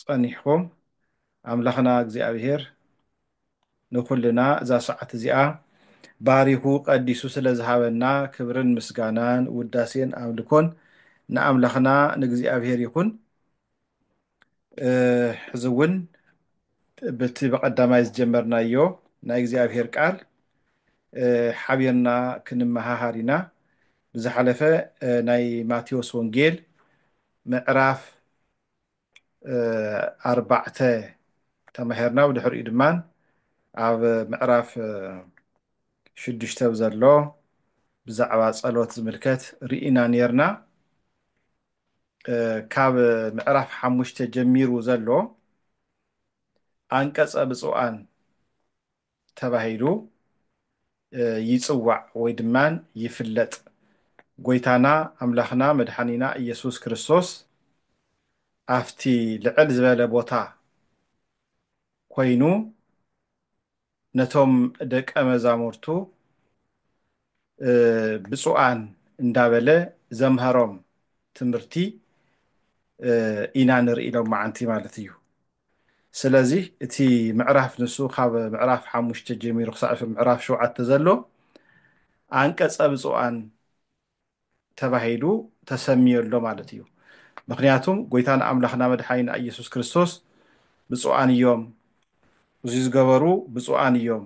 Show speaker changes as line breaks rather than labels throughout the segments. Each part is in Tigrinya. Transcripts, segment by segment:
ጸኒሕኩም ኣምላኽና እግዚኣብሄር ንኩልና እዛ ሰዓት እዚኣ ባሪኹ ቀዲሱ ስለ ዝሃበና ክብርን ምስጋናን ውዳሴን ኣምልኮን ንኣምላኽና ንእግዚኣብሄር ይኹን ሕዚ እውን ብቲ በቀዳማይ ዝጀመርናዮ ናይ እግዚኣብሄር ቃል ሓቢርና ክንመሃሃር ኢና ብዝሓለፈ ናይ ማቴዎስ ወንጌል ምዕራፍ ኣርባዕተ ተማሂርና ብድሕሪኡ ድማ ኣብ ምዕራፍ ሽዱሽተ ዘሎ ብዛዕባ ጸሎት ዝምልከት ርኢና ኔርና ካብ ምዕራፍ ሓሙሽተ ጀሚሩ ዘሎ ኣንቀጸ ብፁዓን ተባሂሉ ይጽዋዕ ወይ ድማ ይፍለጥ። ጎይታና ኣምላኽና መድሓኒና እየሱስ ክርስቶስ ኣፍቲ ልዕል ዝበለ ቦታ ኮይኑ ነቶም ደቀ መዛሙርቱ ብፁዓን እንዳበለ ዘምሀሮም ትምህርቲ ኢና ንርኢ ሎምዓንቲ ማለት እዩ። ስለዚ እቲ ምዕራፍ ንሱ ካብ ምዕራፍ ሓሙሽተ ጀሚሩ ክሳዕ ምዕራፍ ሸውዓተ ዘሎ ኣንቀጸ ብፁዓን ተባሂሉ ተሰሚዮ ኣሎ ማለት እዩ። ምክንያቱም ጎይታና ኣምላክና መድሓኒና ኢየሱስ ክርስቶስ ብፁዓን እዮም እዚ ዝገበሩ ብፁዓን እዮም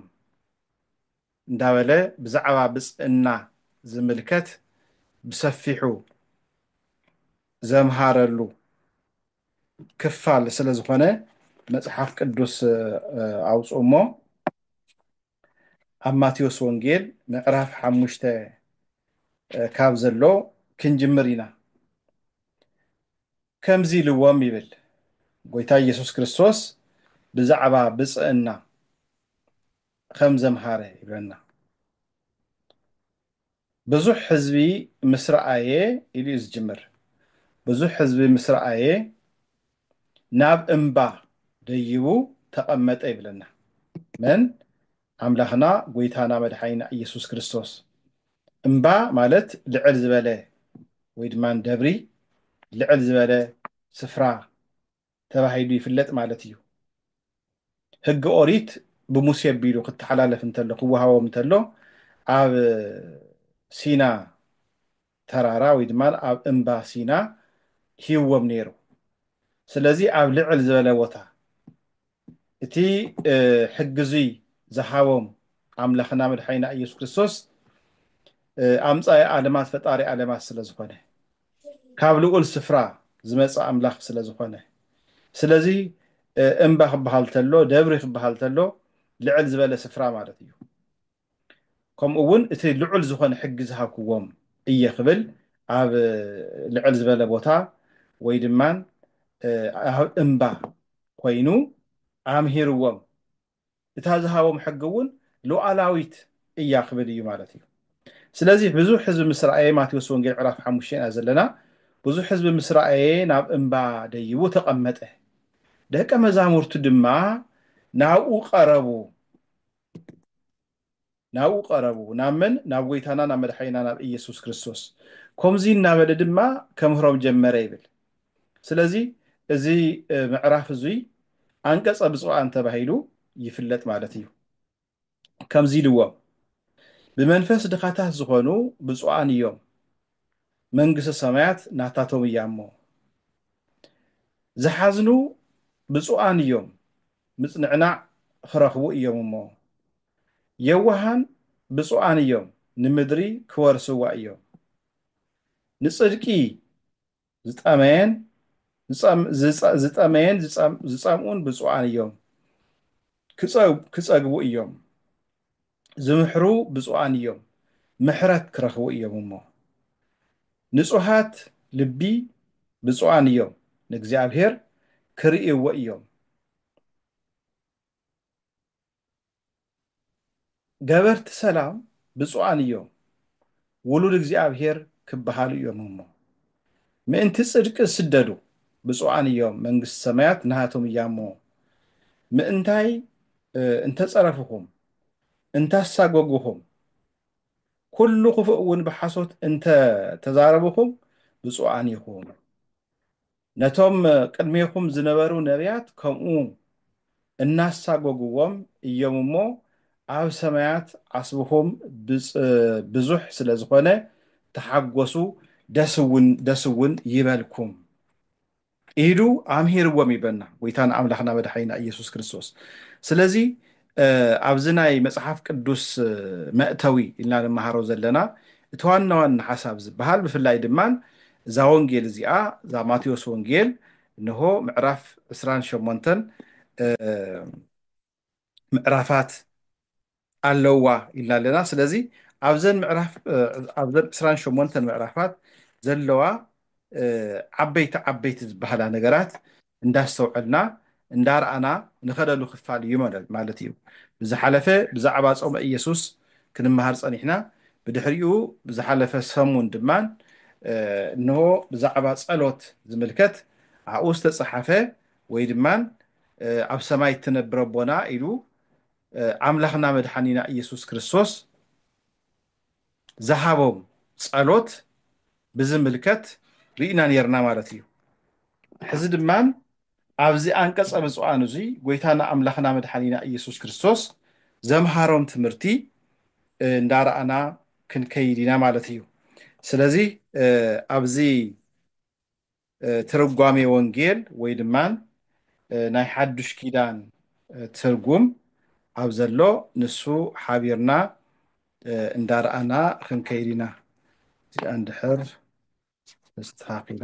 እንዳበለ ብዛዕባ ብፅእና ዝምልከት ብሰፊሑ ዘምሃረሉ ክፋል ስለ ዝኾነ መፅሓፍ ቅዱስ ኣውፅኡ እሞ ኣብ ማቴዎስ ወንጌል ምዕራፍ ሓሙሽተ ካብ ዘሎ ክንጅምር ኢና ከምዚ ኢልዎም ይብል ጎይታ ኢየሱስ ክርስቶስ ብዛዕባ ብፅእና ከም ዘምሃረ ይብለና። ብዙሕ ሕዝቢ ምስ ረኣየ ኢሉ እዩ ዝጅምር። ብዙሕ ሕዝቢ ምስ ረኣየ ናብ እምባ ደይቡ ተቐመጠ ይብለና። መን? ኣምላኽና ጎይታና መድሓኒና ኢየሱስ ክርስቶስ። እምባ ማለት ልዕል ዝበለ ወይ ድማ ደብሪ ልዕል ዝበለ ስፍራ ተባሂሉ ይፍለጥ ማለት እዩ። ሕጊ ኦሪት ብሙሴ ኣቢሉ ክተሓላለፍ እንተሎ ክወሃቦም እንተሎ ኣብ ሲና ተራራ ወይ ድማ ኣብ እምባ ሲና ሂዎም ነይሩ። ስለዚ ኣብ ልዕል ዝበለ ቦታ እቲ ሕጊ እዙይ ዝሃቦም ኣምላኽና መድሓኒና ኢየሱስ ክርስቶስ ኣምጻኢ ኣለማት ፈጣሪ ኣለማት ስለ ዝኾነ ካብ ልኡል ስፍራ ዝመጸ ኣምላኽ ስለ ዝኾነ ስለዚ እምባ ክበሃል ተሎ ደብሪ ክበሃል ተሎ ልዕል ዝበለ ስፍራ ማለት እዩ ከምኡ እውን እቲ ልዑል ዝኾነ ሕጊ ዝሃብክዎም እየ ክብል ኣብ ልዕል ዝበለ ቦታ ወይ ድማ እምባ ኮይኑ ኣምሂርዎም እታ ዝሃቦም ሕጊ እውን ሉዓላዊት እያ ክብል እዩ ማለት እዩ። ስለዚ ብዙሕ ሕዝቢ ምስ ረኣየ ማቴዎስ ወንጌል ምዕራፍ ሓሙሽተ ኢና ዘለና ብዙሕ ሕዝቢ ምስ ረኣየ ናብ እምባ ደይቡ ተቐመጠ ደቀ መዛሙርቱ ድማ ናብኡ ቀረቡ። ናብኡ ቀረቡ፣ ናብ መን? ናብ ጐይታና ናብ መድሓኒና ናብ ኢየሱስ ክርስቶስ። ኮምዚ እናበለ ድማ ከምህሮም ጀመረ ይብል። ስለዚ እዚ ምዕራፍ እዙይ ኣንቀጸ ብፁዓን ተባሂሉ ይፍለጥ ማለት እዩ። ከምዚ ኢልዎም፣ ብመንፈስ ድኻታት ዝኾኑ ብፁዓን እዮም፣ መንግስተ ሰማያት ናታቶም እያ እሞ። ዝሓዝኑ ብፁዓን እዮም፣ ምጽንዕናዕ ኽረኽቡ እዮም እሞ። የዋሃን ብጹኣን እዮም ንምድሪ ክወርስዋ እዮም። ንጽድቂ ዝጠመየን ዝጠመየን ዝጸምኡን ብጹኣን እዮም ክጸግቡ እዮም። ዝምሕሩ ብፁዓን እዮም ምሕረት ክረኽቡ እዮም እሞ። ንጹሃት ልቢ ብፁዓን እዮም ንእግዚኣብሔር ክርእይዎ እዮም። ገበርቲ ሰላም ብፁዓን እዮም ውሉድ እግዚኣብሔር ክበሃሉ እዮም እሞ ምእንቲ ጽድቂ ዝስደዱ ብፁዓን እዮም መንግሥቲ ሰማያት ናሃቶም እያ እሞ ምእንታይ እንተጸረፍኹም እንታሳጎግኹም ኩሉ ክፉእ እውን ብሓሶት እንተ ተዛረብኹም ብፁዓን ኢኹም ነቶም ቅድሜኹም ዝነበሩ ነብያት ከምኡ እናሳጎጉዎም እዮም እሞ ኣብ ሰማያት ዓስብኹም ብዙሕ ስለ ዝኾነ ተሓጎሱ ደስውን ይበልኩም ኢሉ ኣምሂርዎም ይብለና ጎይታና ኣምላኽና መድሓኒና ኢየሱስ ክርስቶስ ስለዚ ኣብዚ ናይ መጽሓፍ ቅዱስ መእተዊ ኢልና ንመሃሮ ዘለና እቲ ዋና ዋና ሓሳብ ዝበሃል ብፍላይ ድማ እዛ ወንጌል እዚኣ እዛ ማቴዎስ ወንጌል እንሆ ምዕራፍ ዕስራን ሸሞንተን ምዕራፋት ኣለዋ ኢልና ኣለና ስለዚ ኣብዘን ምዕራፍ ኣብዘን ዕስራን ሸሞንተን ምዕራፋት ዘለዋ ዓበይቲ ዓበይቲ ዝበሃላ ነገራት እንዳስተውዐልና እንዳረኣና ንኸደሉ ክፋል እዩ ማለት እዩ። ብዝሓለፈ ብዛዕባ ጾመ ኢየሱስ ክንመሃር ጸኒሕና ብድሕሪኡ ብዝሓለፈ ሰሙን ድማ እንሆ ብዛዕባ ጸሎት ዝምልከት ኣብኡ ዝተጸሓፈ ወይ ድማ ኣብ ሰማይ እትነብር ኣቦና ኢሉ ኣምላኽና መድሓኒና ኢየሱስ ክርስቶስ ዝሃቦም ጸሎት ብዝምልከት ርኢና ኔርና ማለት እዩ። ሕዚ ድማ ኣብዚ ኣንቀጸ ብጹኣን እዚ ጎይታና ኣምላኽና መድሓኒና ኢየሱስ ክርስቶስ ዘምሃሮም ትምህርቲ እንዳረኣና ክንከይድ ኢና ማለት እዩ። ስለዚ ኣብዚ ትርጓሜ ወንጌል ወይ ድማ ናይ ሓዱሽ ኪዳን ትርጉም ኣብ ዘሎ ንሱ ሓቢርና እንዳርኣና ክንከይድ ኢና እዚኣ እንድሕር ተስተኻኺላ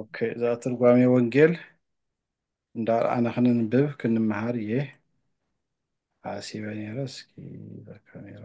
ኦኬ እዛ ትርጓሜ ወንጌል እንዳርኣና ክንንብብ ክንመሃር እየ ሓሲበ ነይረ እስኪ እዛ ካሜራ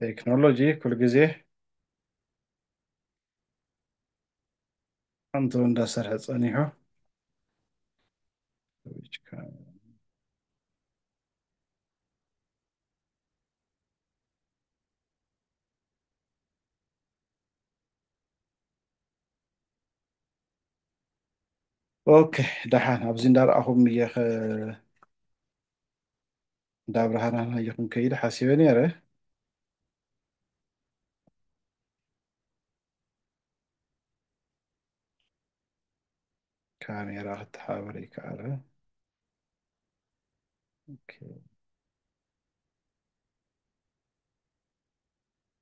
ቴክኖሎጂ ኩሉ ግዜ ሓንቱ እንዳሰርሐ ፀኒሑ ኦኬ ደሓን ኣብዚ እንዳረኣኹም እየ ከ እንዳ ብርሃናን ሃየኹም ከይደ ሓሲበ ነይረ ካሜራ ክተሓባበር ይከኣለ ኦኬ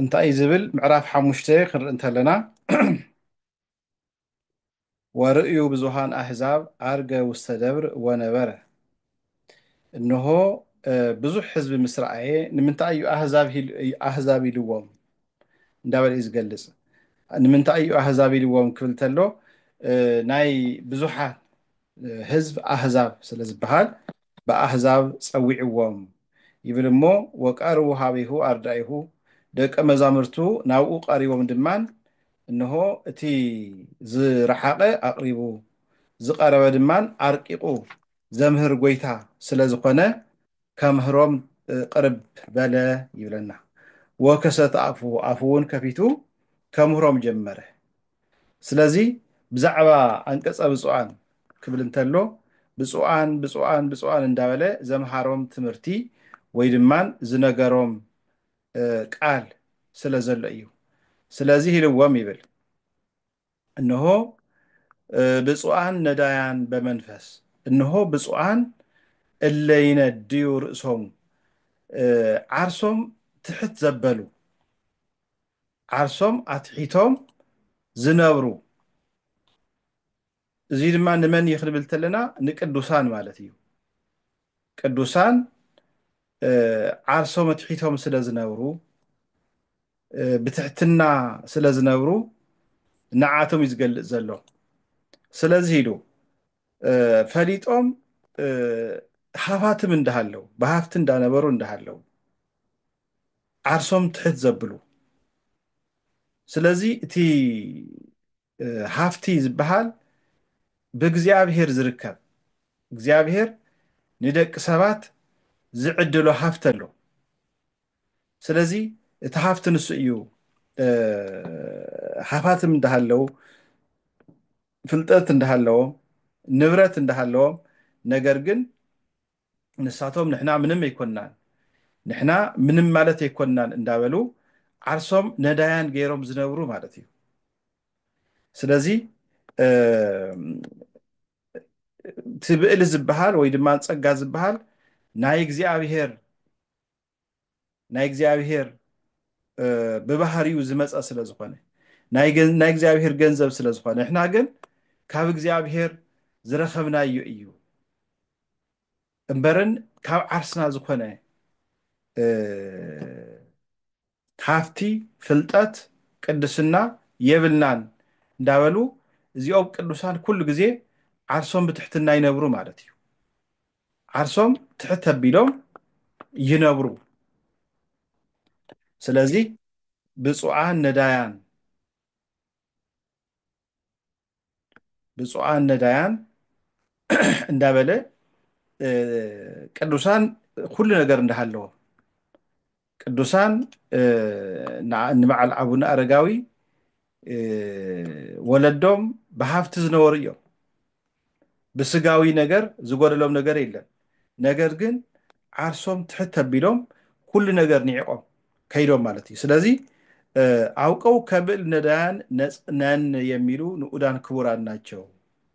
እንታይ እዩ ዝብል ምዕራፍ ሓሙሽተ ክንርኢ እንተለና ወርእዩ ብዙሃን ኣህዛብ ኣርገ ውስተ ደብር ወነበረ እንሆ ብዙሕ ህዝቢ ምስ ረኣየ ንምንታይ እዩ ኣህዛብ ኢልዎም እንዳበለ እዩ ዝገልፅ ንምንታይ እዩ ኣህዛብ ኢልዎም ክብል ተሎ ናይ ብዙሓት ህዝብ ኣህዛብ ስለ ዝበሃል ብኣሕዛብ ጸዊዕዎም ይብል እሞ ወቀርቡ ኀቤሁ ኣርዳኢሁ ደቀ መዛሙርቱ ናብኡ ቀሪቦም ድማ እንሆ እቲ ዝረሓቐ ኣቕሪቡ ዝቐረበ ድማ ኣርቂቑ ዘምህር ጐይታ ስለ ዝኾነ ከምህሮም ቅርብ በለ ይብለና ወከሰተ ኣፉሁ ኣፉውን ከፊቱ ከምህሮም ጀመረ ስለዚ ብዛዕባ ኣንቀጸ ብፁዓን ክብል እንተሎ ብፁዓን ብፁዓን ብፁዓን እንዳበለ ዘምሃሮም ትምህርቲ ወይ ድማን ዝነገሮም ቃል ስለ ዘሎ እዩ። ስለዚህ ኢልዎም ይብል እነሆ ብፁዓን ነዳያን በመንፈስ እነሆ ብፁዓን እለ ይነድዩ ርእሶም ዓርሶም ትሕት ዘበሉ ዓርሶም ኣትሒቶም ዝነብሩ እዚ ድማ ንመን እዩ ክንብል ተለና ንቅዱሳን ማለት እዩ ቅዱሳን ዓርሶም ኣትሒቶም ስለ ዝነብሩ ብትሕትና ስለ ዝነብሩ ንዓቶም እዩ ዝገልፅ ዘሎ ስለዚ ኢሉ ፈሊጦም ሃፋትም እንዳሃለው ብሃፍቲ እንዳነበሩ እንዳሃለው ዓርሶም ትሕት ዘብሉ ስለዚ እቲ ሃፍቲ ዝበሃል ብእግዚኣብሄር ዝርከብ እግዚኣብሄር ንደቂ ሰባት ዝዕድሎ ሃፍቲ ኣሎ ስለዚ እቲ ሃፍቲ ንሱ እዩ ሃፋትም እንዳሃለው ፍልጠት እንዳሃለዎም ንብረት እንዳሃለዎም ነገር ግን ንሳቶም ንሕና ምንም ኣይኮንናን ንሕና ምንም ማለት ኣይኮንናን እንዳበሉ ዓርሶም ነዳያን ገይሮም ዝነብሩ ማለት እዩ ስለዚ እቲ ብእሊ ዝበሃል ወይ ድማ ፀጋ ዝበሃል ናይ እግዚኣብሄር ናይ እግዚኣብሄር ብባህሪኡ ዝመፀ ስለ ዝኾነ ናይ እግዚኣብሄር ገንዘብ ስለ ዝኾነ ንሕና ግን ካብ እግዚኣብሄር ዝረኸብናዮ እዩ እምበርን ካብ ዓርስና ዝኾነ ሃፍቲ ፍልጠት ቅድስና የብልናን እንዳበሉ እዚኦም ቅዱሳን ኩሉ ግዜ ዓርሶም ብትሕትና ይነብሩ ማለት እዩ ዓርሶም ትሕት ኣቢሎም ይነብሩ። ስለዚ ብፁዓን ነዳያን ብፁዓን ነዳያን እንዳበለ ቅዱሳን ኩሉ ነገር እንዳሃለዎ ቅዱሳን ንበዓል ኣቡነ ኣረጋዊ ወለዶም ብሃፍቲ ዝነበሩ እዮም ብስጋዊ ነገር ዝጎደሎም ነገር የለን ነገር ግን ዓርሶም ትሕት ተቢሎም ኩሉ ነገር ንዒቆም ከይዶም ማለት እዩ ስለዚ አውቀው ከብል ነዳያን ነን የሚሉ ንኡዳን ክቡራን ናቸው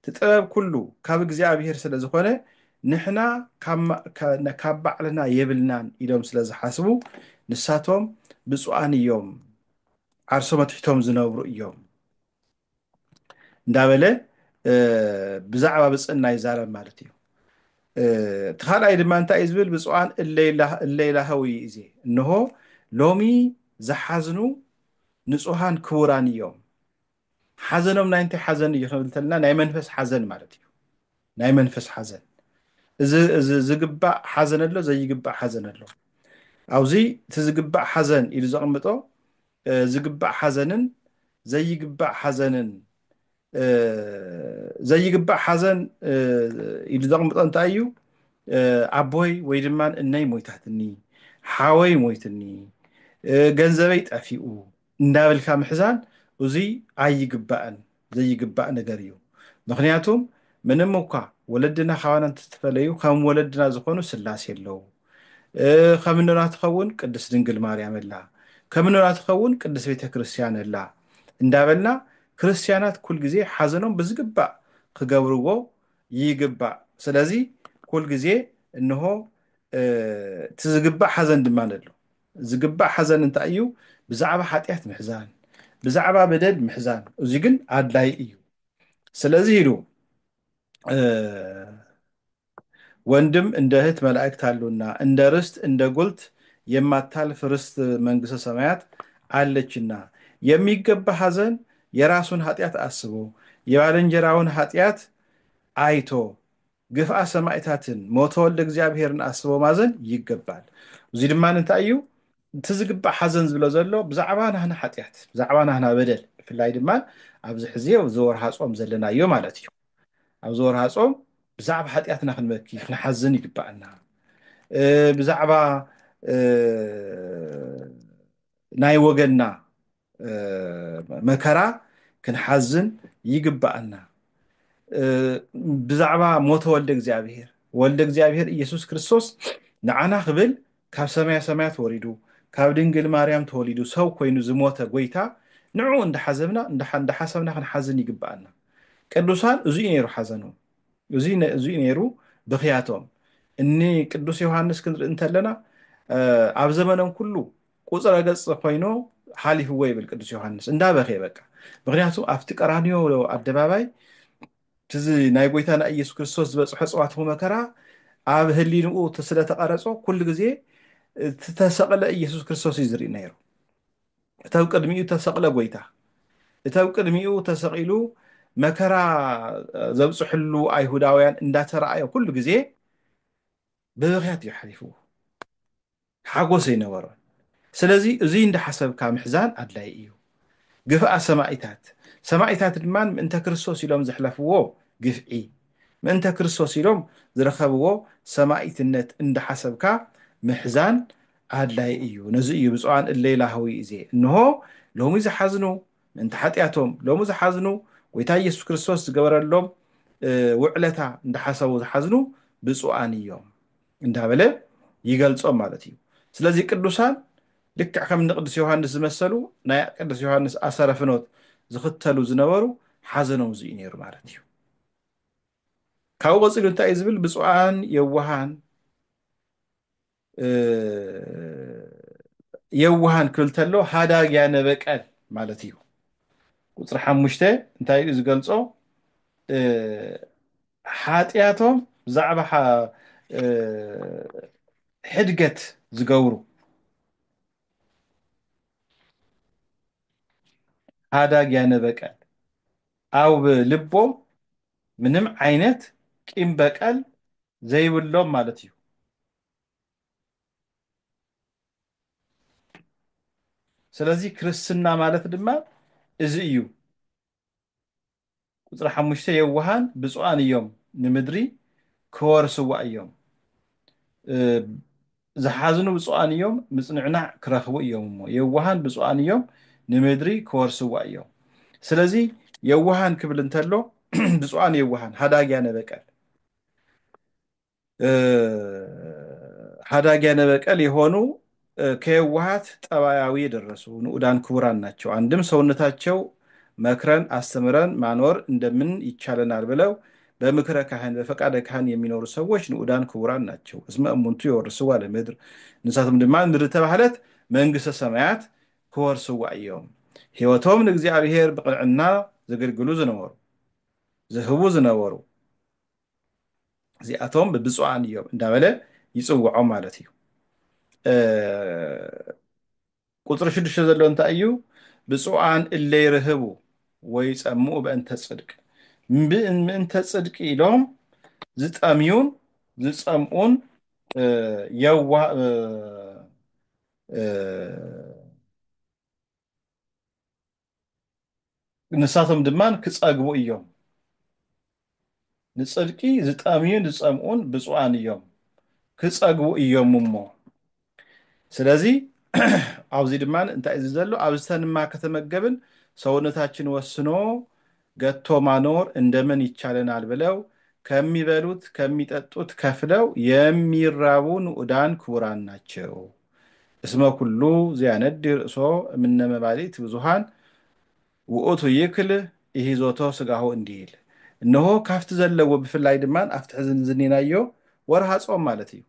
እቲ ጥበብ ኩሉ ካብ እግዚኣብሄር ስለ ዝኾነ ንሕና ካብ ባዕልና የብልናን ኢሎም ስለ ዝሓስቡ ንሳቶም ብፁዓን እዮም ዓርሶም ኣትሒቶም ዝነብሩ እዮም እንዳበለ ብዛዕባ ብፅእና ይዛረብ ማለት እዩ እቲ ካልኣይ ድማ እንታይ እዩ ዝብል ብፁዓን እለይላሃዊ እዚ እንሆ ሎሚ ዝሓዝኑ ንፁሃን ክቡራን እዮም ሓዘኖም ናይ እንታይ ሓዘን እዩ ክንብል እንተለና ናይ መንፈስ ሓዘን ማለት እዩ ናይ መንፈስ ሓዘን እዚ ዝግባእ ሓዘን ኣሎ ዘይግባእ ሓዘን ኣሎ ኣብዚ እቲ ዝግባእ ሓዘን ኢሉ ዘቕምጦ ዝግባእ ሓዘንን ዘይግባእ ሓዘንን ዘይግባእ ሓዘን ኢሉ ዘቕምጦ እንታይ እዩ ኣቦይ ወይ ድማ እነይ ሞይታትኒ ሓወይ ሞይትኒ ገንዘበይ ጠፊኡ እንዳበልካ ምሕዛን እዙይ ኣይግባእን ዘይግባእ ነገር እዩ ምክንያቱም ምንም እኳ ወለድና ካባና እንተተፈለዩ ከም ወለድና ዝኾኑ ስላሴ ኣለው ከም እኖና ትኸውን ቅድስት ድንግል ማርያም ኣላ ከም እኖና ትኸውን ቅድስት ቤተ ክርስቲያን ኣላ እንዳበልና ክርስቲያናት ኩል ግዜ ሓዘኖም ብዝግባእ ክገብርዎ ይግባእ ስለዚ ኩል ግዜ እንሆ እቲ ዝግባእ ሓዘን ድማ ኣሎ ዝግባእ ሓዘን እንታይ እዩ? ብዛዕባ ሓጢኣት ምሕዛን፣ ብዛዕባ በደል ምሕዛን፣ እዚ ግን ኣድላይ እዩ። ስለዚ ኢሉ ወንድም እንደ እህት መላእክት አሉና እንደ ርስት እንደ ጉልት የማታልፍ ርስት መንግስተ ሰማያት አለችና የሚገባ ሐዘን የራሱን ኃጢአት አስቦ የባልንጀራውን ኃጢአት አይቶ ግፍኣ ሰማኢታትን ሞተ ወልደ እግዚኣብሔርን ኣስቦ ማዘን ይገባል እዙይ ድማ እንታይ እዩ እቲ ዝግባእ ሓዘን ዝብሎ ዘሎ ብዛዕባ ናህና ሓጢኣት ብዛዕባ ናህና በደል ብፍላይ ድማ ኣብዚ ሕዚ ኣብዚ ወርሃ ጾም ዘለናዮ ማለት እዩ ኣብዚ ወርሃ ጾም ብዛዕባ ሓጢኣትና ክንበኪ ክንሓዝን ይግባኣና ብዛዕባ ናይ ወገንና መከራ ክንሓዝን ይግባኣና ብዛዕባ ሞተ ወልደ እግዚኣብሄር ወልደ እግዚኣብሄር ኢየሱስ ክርስቶስ ንዓና ክብል ካብ ሰማያ ሰማያት ወሪዱ ካብ ድንግል ማርያም ተወሊዱ ሰብ ኮይኑ ዝሞተ ጎይታ ንዑ እንዳሓዘብና እንዳሓሰብና ክንሓዝን ይግባኣና ቅዱሳን እዙይ ነይሩ ሓዘኑ እዙይ ነይሩ ብክያቶም እኒ ቅዱስ ዮሃንስ ክንርኢ እንተለና ኣብ ዘመኖም ኩሉ ቁጽረ ገጽ ኮይኑ ሓሊፍዎ ይብል ቅዱስ ዮሃንስ እንዳ በክየ በቃ ምክንያቱ ኣብቲ ቀራንዮ ኣደባባይ ትዚ ናይ ጎይታና ኢየሱስ ክርስቶስ ዝበጽሖ ጽዋትኹ መከራ ኣብ ህሊንኡ ስለ ተቐረጾ ኩሉ ግዜ ዝተሰቕለ ኢየሱስ ክርስቶስ እዩ ዝርኢ ነይሩ እቲ ኣብ ቅድሚኡ ተሰቕለ ጎይታ እቲ ኣብ ቅድሚኡ ተሰቒሉ መከራ ዘብጽሕሉ ኣይሁዳውያን እንዳተረኣየ ኩሉ ግዜ ብብኽያት እዩ ሓሊፍዎ ሓጎስ ኣይነበሮን ስለዚ እዙይ እንዳሓሰብካ ምሕዛን ኣድላይ እዩ ግፍኣ ሰማኢታት ሰማኢታት ድማ ምእንተ ክርስቶስ ኢሎም ዘሕለፍዎ ግፍዒ ምእንተ ክርስቶስ ኢሎም ዝረከብዎ ሰማኢትነት እንዳሓሰብካ ምሕዛን ኣድላይ እዩ ነዚ እዩ ብፁዓን እለይ ላህዊ እዜ እንሆ ሎሚ ዝሓዝኑ ምእንተ ሓጢኣቶም ሎሚ ዝሓዝኑ ጎይታ ኢየሱስ ክርስቶስ ዝገበረሎም ውዕለታ እንዳሓሰቡ ዝሓዝኑ ብፁዓን እዮም እንዳበለ ይገልጾም ማለት እዩ ስለዚ ቅዱሳን ልክዕ ከም ንቅዱስ ዮሃንስ ዝመሰሉ ናይ ቅዱስ ዮሃንስ ኣሰረ ፍኖት ዝኽተሉ ዝነበሩ ሓዘኖም እዚ እዩ ነይሩ ማለት እዩ ካብኡ ቀፂሉ እንታይ እዩ ዝብል ብፁዓን የዋሃን የዋሃን ክብል ተሎ ሃዳግያ ነበቀል ማለት እዩ ቁፅሪ ሓሙሽተ እንታይ እዩ ዝገልፆ ሓጥያቶም ብዛዕባ ሕድገት ዝገብሩ ሃዳግ ያነ በቀል ኣብ ልቦም ምንም ዓይነት ቂም በቀል ዘይብሎም ማለት እዩ። ስለዚ ክርስትና ማለት ድማ እዚ እዩ። ቁጽሪ ሓሙሽተ የዋሃን ብጹኣን እዮም ንምድሪ ክወርስዋ እዮም ዝሓዝኑ ብጹኣን እዮም ምጽንዕናዕ ክረኽቡ እዮም እሞ የዋሃን ብጹኣን እዮም ንምድሪ ክወርስዋ እዮም ስለዚ የዋሃን ክብል እንተሎ ብጹኣን የዋሃን ሃዳግያ ነበቀል ሀዳጊ ያነበቀል የሆኑ ከየዋሃት ጠባያዊ የደረሱ ንኡዳን ክቡራን ናቸው። አንድም ሰውነታቸው መክረን አስተምረን ማኖር እንደምን ይቻለናል ብለው በምክረ ካህን በፈቃደ ካህን የሚኖሩ ሰዎች ንኡዳን ክቡራን ናቸው። እስመ እሙንቱ የወርስዋ ለምድር ንሳቶም ድማ ምድር ተባህለት መንግስተ ሰማያት ክወርስዋ እዮም። ሕይወቶም ንእግዚኣብሔር ብቅንዕና ዘገልግሉ ዝነበሩ ዝህቡ ዝነበሩ እዚኣቶም ብብፁዓን እዮም እንዳበለ ይፅውዖም ማለት እዩ ቁፅሪ ሽዱሽተ ዘሎ እንታይ እዩ ብፁዓን እለ ይርህቡ ወይ ፀምኡ በእንተ ፅድቅ ምእንተ ፅድቂ ኢሎም ዝጠምዩን ዝፀምኡን የዋ ንሳቶም ድማ ክጸግቡ እዮም። ንጽድቂ ዝጠምዩን ዝጸምኡን ብፁዓን እዮም ክጸግቡ እዮም እሞ ስለዚ ኣብዚ ድማ እንታይ እዚ ዘሎ ኣብዝተንማ ከተመገብን ሰውነታችን ወስኖ ገቶ ማኖር እንደምን ይቻለናል ብለው ከሚበሉት ከሚጠጡት ከፍለው የሚራቡ ንኡዳን ክቡራን ናቸው። እስመ ኩሉ ዘያነዲ ርእሶ እምነ መባልእት ብዙኃን ውእቱ ይክል ኢሂዞቶ ሥጋሁ እንዲል እነሆ ካፍቲ ዘለዎ ብፍላይ ድማ ኣብቲ ሕዚ ዝኔናዮ ወርኃ ጾም ማለት እዩ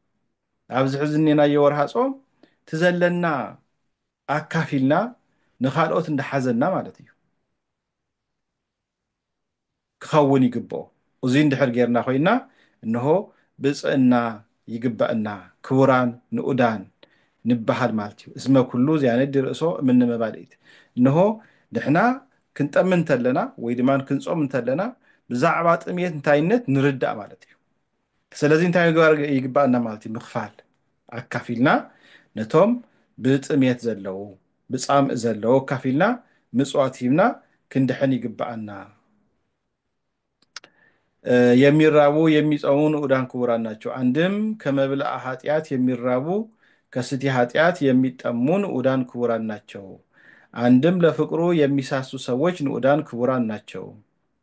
ኣብዚ ሕዚ ዝኔናዮ ወርኃ ጾም ትዘለና ኣካፊልና ንኻልኦት እንዳሓዘና ማለት እዩ። ክኸውን ይግብኦ። እዙይ እንድሕር ጌርና ኮይና እንሆ ብፅእና ይግበእና ክቡራን ንኡዳን ንበሃል ማለት እዩ። እስመ ኩሉ ዚያነዲ ርእሶ እምነ መባልኢት እንሆ ንሕና ክንጠሚ እንተለና ወይ ድማ ክንፆም እንተለና ብዛዕባ ጥምየት እንታይነት ንርዳእ ማለት እዩ። ስለዚ እንታይ ምግባር ይግባኣና ማለት እዩ ምኽፋል ኣካፊልና ነቶም ብጥሜት ዘለዉ ብፃምእ ዘለዉ ኣካፊልና ምፅዋት ሂብና ክንድሕን ይግባኣና የሚራቡ የሚፀሙ ንኡዳን ክቡራን ናቸው አንድም ከመብልአ ኃጢአት የሚራቡ ከስቲ ኃጢአት የሚጠሙ ንኡዳን ክቡራን ናቸው አንድም ለፍቅሩ የሚሳሱ ሰዎች ንኡዳን ክቡራን ናቸው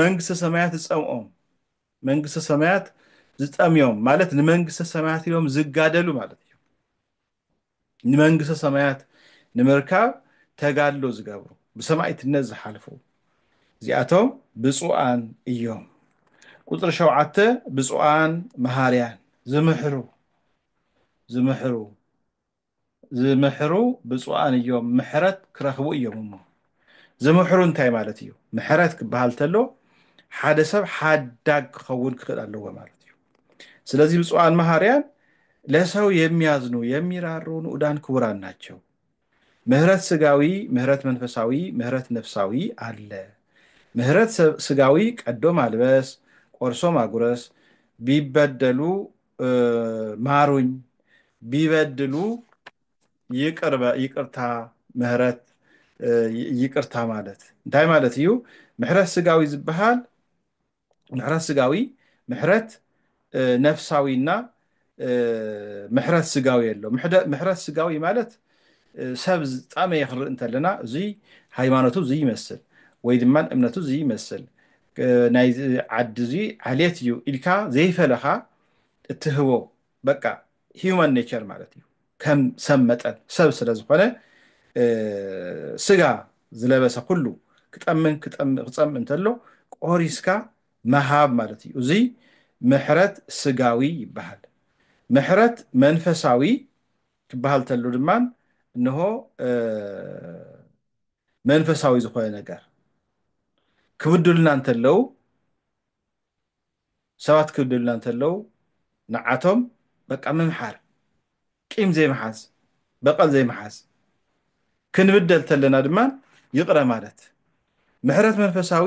መንግስተ ሰማያት ዝጸምኦም መንግስተ ሰማያት ዝጠምዮም ማለት ንመንግስተ ሰማያት ኢሎም ዝጋደሉ ማለት እዮም ንመንግስተ ሰማያት ንምርካብ ተጋድሎ ዝገብሩ ብሰማይትነት ዝሓልፉ እዚኣቶም ብፁዓን እዮም ቁፅሪ ሸውዓተ ብፁዓን መሃርያን ዝምሕሩ ዝምሕሩ ዝምሕሩ ብፁዓን እዮም ምሕረት ክረኽቡ እዮም እሞ ዝምሕሩ እንታይ ማለት እዩ ምሕረት ክበሃል ተሎ ሓደ ሰብ ሓዳግ ክኸውን ክኽእል ኣለዎ ማለት እዩ ስለዚህ ብፁዓን መሃርያን ለሰው የሚያዝኑ የሚራሩ ንኡዳን ክቡራን ናቸው ምህረት ስጋዊ ምህረት መንፈሳዊ ምህረት ነፍሳዊ አለ ምህረት ስጋዊ ቀዶ ማልበስ ቆርሶ ማጉረስ ቢበደሉ ማሩኝ ቢበድሉ ይቅር ይቅርታ ምህረት ይቅርታ ማለት እንታይ ማለት እዩ ምሕረት ስጋዊ ዝበሃል ምሕረት ስጋዊ ምሕረት ነፍሳዊና ምሕረት ስጋዊ ኣሎ ምሕረት ስጋዊ ማለት ሰብ ዝጣመየ ክንርኢ እንተለና እዙይ ሃይማኖቱ ዝይመስል ወይ ድማ እምነቱ ዝይመስል ናይዚ ዓዲ እዙይ ዓሌት እዩ ኢልካ ዘይፈለኻ እትህቦ በቃ ሂዩማን ኔቸር ማለት እዩ ከም ሰብ መጠን ሰብ ስለ ዝኾነ ስጋ ዝለበሰ ኩሉ ክጠምን ክፀምእ እንተሎ ቆሪስካ መሃብ ማለት እዩ እዙይ ምሕረት ስጋዊ ይበሃል ምሕረት መንፈሳዊ ክበሃል ተሉ ድማ እንሆ መንፈሳዊ ዝኾነ ነገር ክብድሉና እንተለው ሰባት ክብድሉና እንተለው ንዓቶም በቃ ምምሓር ቂም ዘይምሓዝ በቐል ዘይምሓዝ ክንብደል ተለና ድማ ይቕረ ማለት ምሕረት መንፈሳዊ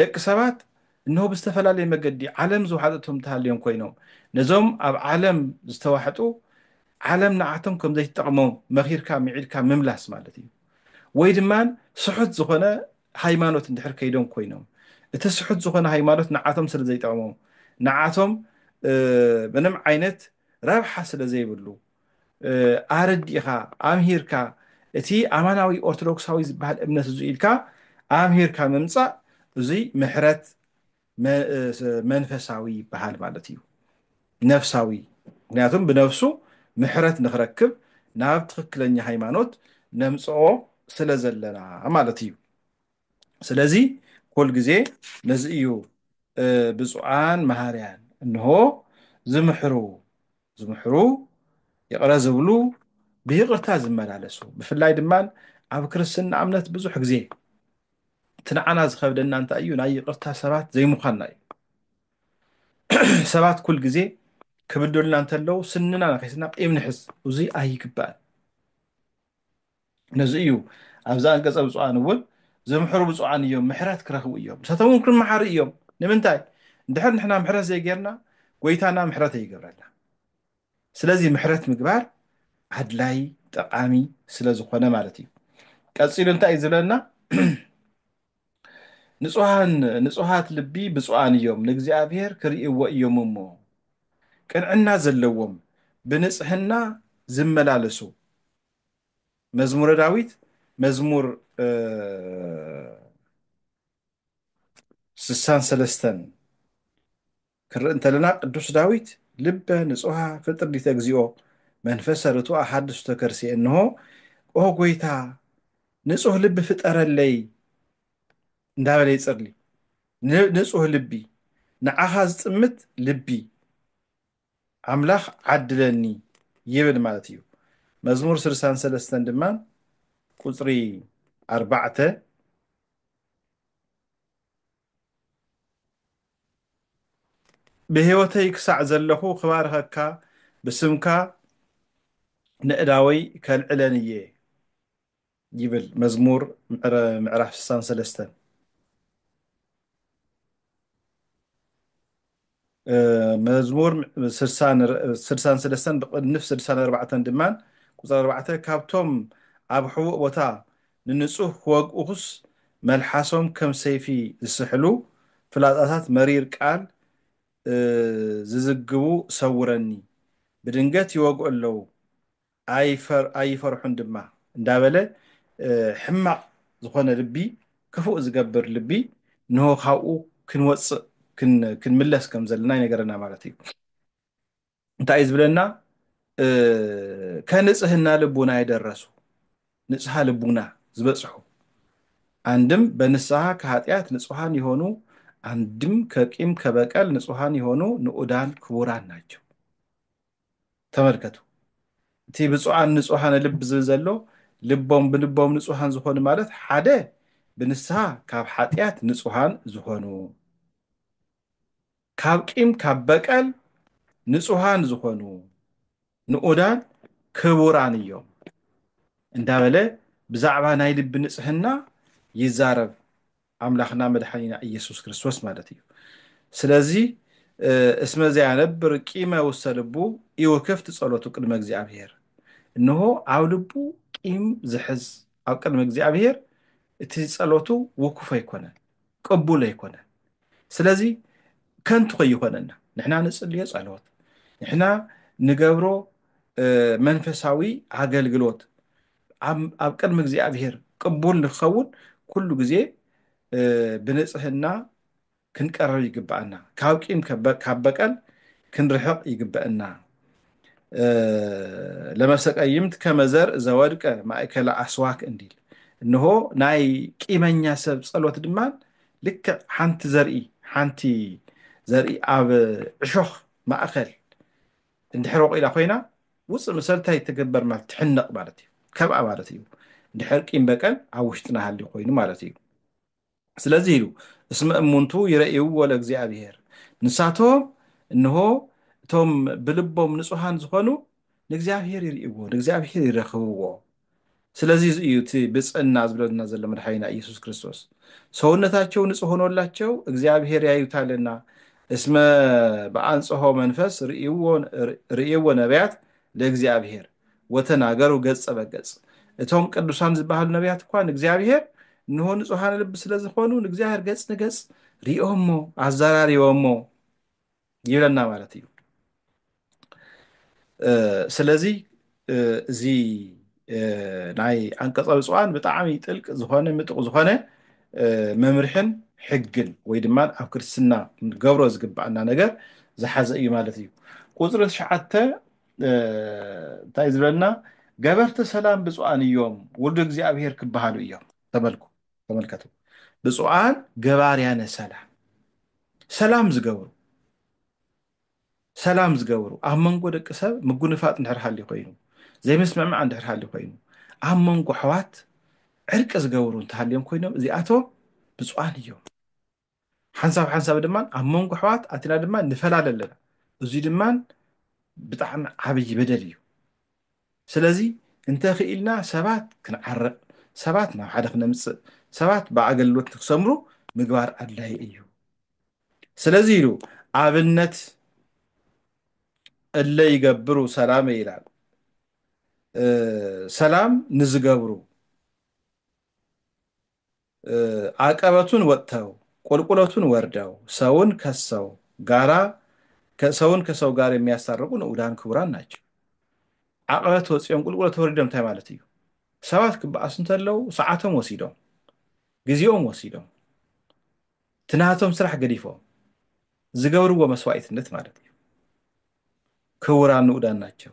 ደቂ ሰባት እንሆ ብዝተፈላለየ መገዲ ዓለም ዝወሓጠቶም ተሃልዮም ኮይኖም፣ ነዞም ኣብ ዓለም ዝተዋሕጡ ዓለም ንዓቶም ከም ዘይትጠቕሞም መኺርካ ምዒድካ ምምላስ ማለት እዩ። ወይ ድማ ስሑት ዝኾነ ሃይማኖት እንድሕር ከይዶም ኮይኖም፣ እቲ ስሑት ዝኾነ ሃይማኖት ንዓቶም ስለ ዘይጠቕሞም፣ ንዓቶም ምንም ዓይነት ረብሓ ስለ ዘይብሉ፣ ኣረዲእኻ ኣምሂርካ እቲ ኣማናዊ ኦርቶዶክሳዊ ዝበሃል እምነት እዙ ኢልካ ኣምሂርካ ምምፃእ እዙይ ምሕረት መንፈሳዊ ይበሃል ማለት እዩ ነፍሳዊ ምክንያቱም ብነፍሱ ምሕረት ንክረክብ ናብ ትክክለኛ ሃይማኖት ነምፅኦ ስለ ዘለና ማለት እዩ ስለዚ ኩል ግዜ ነዚ እዩ ብፁዓን መሃርያን እንሆ ዝምሕሩ ዝምሕሩ ይቕረ ዝብሉ ብይቕርታ ዝመላለሱ ብፍላይ ድማ ኣብ ክርስትና እምነት ብዙሕ ግዜ እቲ ንዓና ዝኸብደና እንታይ እዩ ናይ ይቕርታ ሰባት ዘይምዃንና እዩ ሰባት ኩል ግዜ ክብደሉና እንተለዉ ስንና ነኺስና ቂም ንሕዝ እዙይ ኣይግባእን ነዚ እዩ ኣብዛ ኣንቀጸ ብፁዓን እውን ዝምሕሩ ብፁዓን እዮም ምሕረት ክረኽቡ እዮም ንሳቶም እውን ክመሓሩ እዮም ንምንታይ እንድሕር ንሕና ምሕረት ዘይጌርና ጎይታና ምሕረት ኣይገብረልና ስለዚ ምሕረት ምግባር ኣድላይ ጠቃሚ ስለ ዝኾነ ማለት እዩ ቀፂሉ እንታይ እዩ ዝብለና ንጹሃን ንጹሃት ልቢ ብፁዓን እዮም ንእግዚኣብሔር ክርእይዎ እዮም እሞ ቅንዕና ዘለዎም ብንጽህና ዝመላለሱ መዝሙረ ዳዊት መዝሙር ስሳን ሰለስተን ክንርኢ እንተለና ቅዱስ ዳዊት ልበ ንጹሃ ፍጥር ዲተ እግዚኦ መንፈሰ ርቱዕ ኣሓድሱ ተከርሲ እንሆ ኦ ጎይታ ንጹህ ልቢ ፍጠረለይ እንዳበለ ይጽርሊ ንጹህ ልቢ ንዓኻ ዝጥምት ልቢ ኣምላኽ ዓድለኒ ይብል ማለት እዩ። መዝሙር ስልሳን ሰለስተን ድማ ቁጽሪ ኣርባዕተ ብህይወተይ ክሳዕ ዘለኹ ክባርኸካ ብስምካ ነእዳወይ ከልዕለን እየ ይብል መዝሙር ምዕረ ምዕራፍ ስሳን ሰለስተን መዝሙር ስድሳን ስለስተን ብቕንፍ ስድሳን ኣርባዕተን ድማን ቁፅሪ ኣርባዕተ ካብቶም ኣብ ሕቡእ ቦታ ንንፁህ ክወግኡኹስ መልሓሶም ከም ሰይፊ ዝስሕሉ ፍላፃታት መሪር ቃል ዝዝግቡ ሰውረኒ ብድንገት ይወግኡ ኣለዉ ኣይፈርሑን ድማ እንዳበለ ሕማቕ ዝኾነ ልቢ ክፉእ ዝገብር ልቢ እንሆ ካብኡ ክንወጽእ ክንምለስ ከም ዘለና ይነገረና ማለት እዩ እንታይ እዩ ዝብለና ከንጽህና ልቡና የደረሱ ንጽሃ ልቡና ዝበጽሑ አንድም በንስሐ ከኃጢአት ንጹሐን የሆኑ አንድም ከቂም ከበቀል ንጹሐን የሆኑ ንዑዳን ክቡራን ናቸው። ተመልከቱ እቲ ብፁዓን ንጹሃነ ልብ ዝብል ዘሎ ልቦም ብልቦም ንጹሃን ዝኾኑ ማለት ሓደ ብንስሃ ካብ ሓጢኣት ንጹሃን ዝኾኑ ካብ ቂም ካብ በቀል ንጹሃን ዝኾኑ ንኡዳን ክቡራን እዮም እንዳበለ ብዛዕባ ናይ ልቢ ንጽህና ይዛረብ ኣምላክና መድሓኒና ኢየሱስ ክርስቶስ ማለት እዩ ስለዚ እስመ ዘያነብር ቂመ ውስተ ልቡ ኢወከፍት ጸሎቱ ቅድመ እግዚኣብሔር እንሆ ኣብ ልቡ ቂም ዝሕዝ ኣብ ቅድሚ እግዚኣብሔር እቲ ጸሎቱ ውኩፍ ኣይኮነን ቅቡል ኣይኮነን ስለዚ ከንቱ ከይኾነና ንሕና ንጽልዮ ጸሎት ንሕና ንገብሮ መንፈሳዊ ኣገልግሎት ኣብ ቅድሚ እግዚኣብሔር ቅቡል ንክኸውን ኩሉ ግዜ ብንጽህና ክንቀርብ ይግብኣና። ካብ ቂም ካብ በቀል ክንርሕቕ ይግበእና። ለመሰቀይምት ከመ ዘርእ ዘወድቀ ማእከለ ኣስዋክ እንዲል እንሆ ናይ ቂመኛ ሰብ ጸሎት ድማን ልክዕ ሓንቲ ዘርኢ ሓንቲ ዘርኢ ኣብ ዕሾኽ ማእከል እንድሕር ወቂላ ኮይና ውፅእ ምሰልታይ ትግበር ማለት ትሕነቅ ማለት እዩ ከብኣ ማለት እዩ እንድሕር ቂም በቀል ኣብ ውሽጥና ሃልዩ ኮይኑ ማለት እዩ ስለዚህ ኢሉ እስመ እሙንቱ ይረእይዎ ለእግዚኣብሔር ንሳቶም እንሆ እቶም ብልቦም ንጹሃን ዝኾኑ ንእግዚኣብሔር ይርእይዎ ንእግዚኣብሔር ይረኽብዎ ስለዚ እዩ እቲ ብፅእና ዝብለልና ዘሎ መድሓኒና ኢየሱስ ክርስቶስ ሰውነታቸው ንፁህ ሆኖላቸው እግዚኣብሔር ያዩታልና እስመ ብኣንጽሖ መንፈስ ርእይዎ ነቢያት ለእግዚኣብሔር ወተናገሩ ገጸ በገጽ እቶም ቅዱሳን ዝበሃሉ ነቢያት እኳ ንእግዚኣብሔር እንሆ ንጹሃን ልቢ ስለ ዝኾኑ ንእግዚኣብሔር ገጽ ንገጽ ሪኦሞ ኣዘራሪቦሞ ይብለና ማለት እዩ ስለዚ እዚ ናይ ኣንቀፀ ብፅዋን ብጣዕሚ ጥልቂ ዝኾነ ምጡቕ ዝኾነ መምርሕን ሕግን ወይ ድማ ኣብ ክርስትና ንገብሮ ዝግባኣና ነገር ዝሓዘ እዩ ማለት እዩ ቁፅሪ ትሽዓተ እንታይ ዝብለና ገበርቲ ሰላም ብፁዓን እዮም ውሉድ እግዚኣብሄር ክበሃሉ እዮም ተመልኩ ተመልከቱ ብፁዓን ገባርያነ ሰላም ሰላም ዝገብሩ ሰላም ዝገብሩ ኣብ መንጎ ደቂ ሰብ ምጉንፋጥ እንድሕር ሃልዩ ኮይኑ ዘይምስምዕማዕ እንድሕር ሃልዩ ኮይኑ ኣብ መንጎ ኣሕዋት ዕርቂ ዝገብሩ እንተሃልዮም ኮይኖም እዚኣቶም ብፁዓን እዮም ሓንሳብ ሓንሳብ ድማ ኣብ መንጎ ኣሕዋት ኣቲና ድማ ንፈላለ ኣለና እዙይ ድማ ብጣዕሚ ዓብዪ በደል እዩ ስለዚ እንተኽኢልና ሰባት ክንዓርቕ ሰባት ናብ ሓደ ክነምፅእ ሰባት ብኣገልግሎት ንክሰምሩ ምግባር ኣድላይ እዩ ስለዚ ኢሉ ኣብነት እለ ይገብሩ ሰላም ይላል ሰላም ንዝገብሩ ዓቀበቱን ወጥተው ቁልቁለቱን ወርደው ሰውን ከሰው ጋራ ሰውን ከሰው ጋር የሚያስታርቁ ንዑዳን ክቡራን ናቸው። ዓቀበት ወፂኦም ቁልቁለት ወሪዶም እንታይ ማለት እዩ? ሰባት ክበኣሱ እንተለው ሰዓቶም ወሲዶም ግዜኦም ወሲዶም እቲ ናቶም ስራሕ ገዲፎም ዝገብርዎ መስዋኢትነት ማለት እዩ። ክቡራን ንኡዳን ናቸው።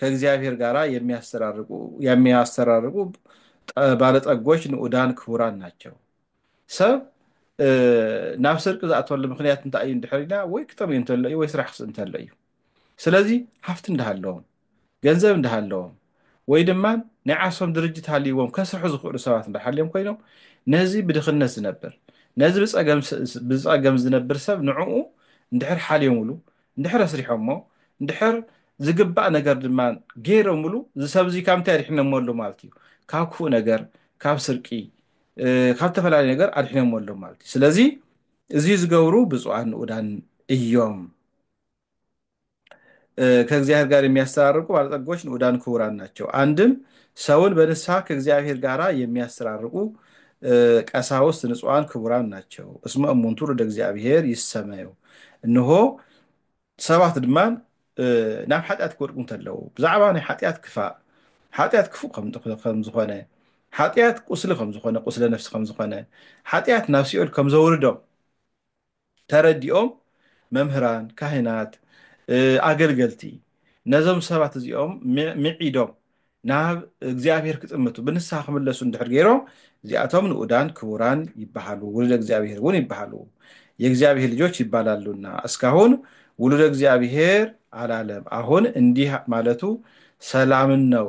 ከእግዚኣብሔር ጋራ የሚያስተራርቁ የሚያስተራርቁ ጠ- ባለጠጎች ንኡዳን ክቡራን ናቸው ሰብ እ፣ ናብ ስርቂ ዝኣተወሉ ምክንያት እንታይ እዩ እንድሕር ኢልና ወይ ክጠምዩ እንተሎ እዩ ወይ ስራሕ ክስእ እንተሎ እዩ ስለዚ ሃፍቲ እንዳሃለዎም ገንዘብ እንዳሃለዎም ወይ ድማ ናይ ዓርሶም ድርጅት ሃልይዎም ከስርሑ ዝኽእሉ ሰባት እንዳሃልዮም ኮይኖም ነዚ ብድኽነት ዝነብር ነዚ ብፀገም ስ- ብፀገም ዝነብር ሰብ ንዕኡ እንድሕር ሓልዮምሉ እንድሕር ኣስሪሖሞ እንድሕር ዝግባእ ነገር ድማ ገይሮምሉ እዚ ሰብ እዚ ካብ እንታይ ኣድሒኖሞ ኣሎ ማለት እዩ ካብ ክፉእ ነገር ካብ ስርቂ ካብ ዝተፈላለዩ ነገር ኣድሒኖሞ ኣሎ ማለት እዩ ስለዚ እዚ ዝገብሩ ብፁዓን ንኡዳን እዮም ከእግዚኣብሔር ጋር የሚያስተራርቁ ባለጠጎች ንኡዳን ክቡራን ናቸው አንድም ሰውን በንስሐ ከእግዚኣብሔር ጋር የሚያስተራርቁ ቀሳውስት ንጹዋን ክቡራን ናቸው እስመ እሙን ትውልደ እግዚኣብሔር ይሰመዩ እንሆ ሰባት ድማ ናብ ሓጢኣት ክወድቁ እንተለዉ ብዛዕባ ናይ ሓጢኣት ክፋእ ሓጢኣት ክፉእ ከም ዝኾነ ሓጢኣት ቁስሊ ከም ዝኾነ ቁስለ ነፍሲ ከም ዝኾነ ሓጢኣት ናብ ሲኦል ከም ዘውርዶም ተረዲኦም መምህራን፣ ካህናት፣ ኣገልገልቲ ነዞም ሰባት እዚኦም ምዒዶም ናብ እግዚኣብሔር ክጥምቱ ብንስሓ ክምለሱ እንድሕር ገይሮም እዚኣቶም ንኡዳን ክቡራን ይበሃሉ ውሉደ እግዚኣብሔር እውን ይበሃሉ የእግዚኣብሔር ልጆች ይባላሉና እስካሁን ውሉደ እግዚኣብሔር አላለም አሁን እንዲህ ማለቱ ሰላምን ነው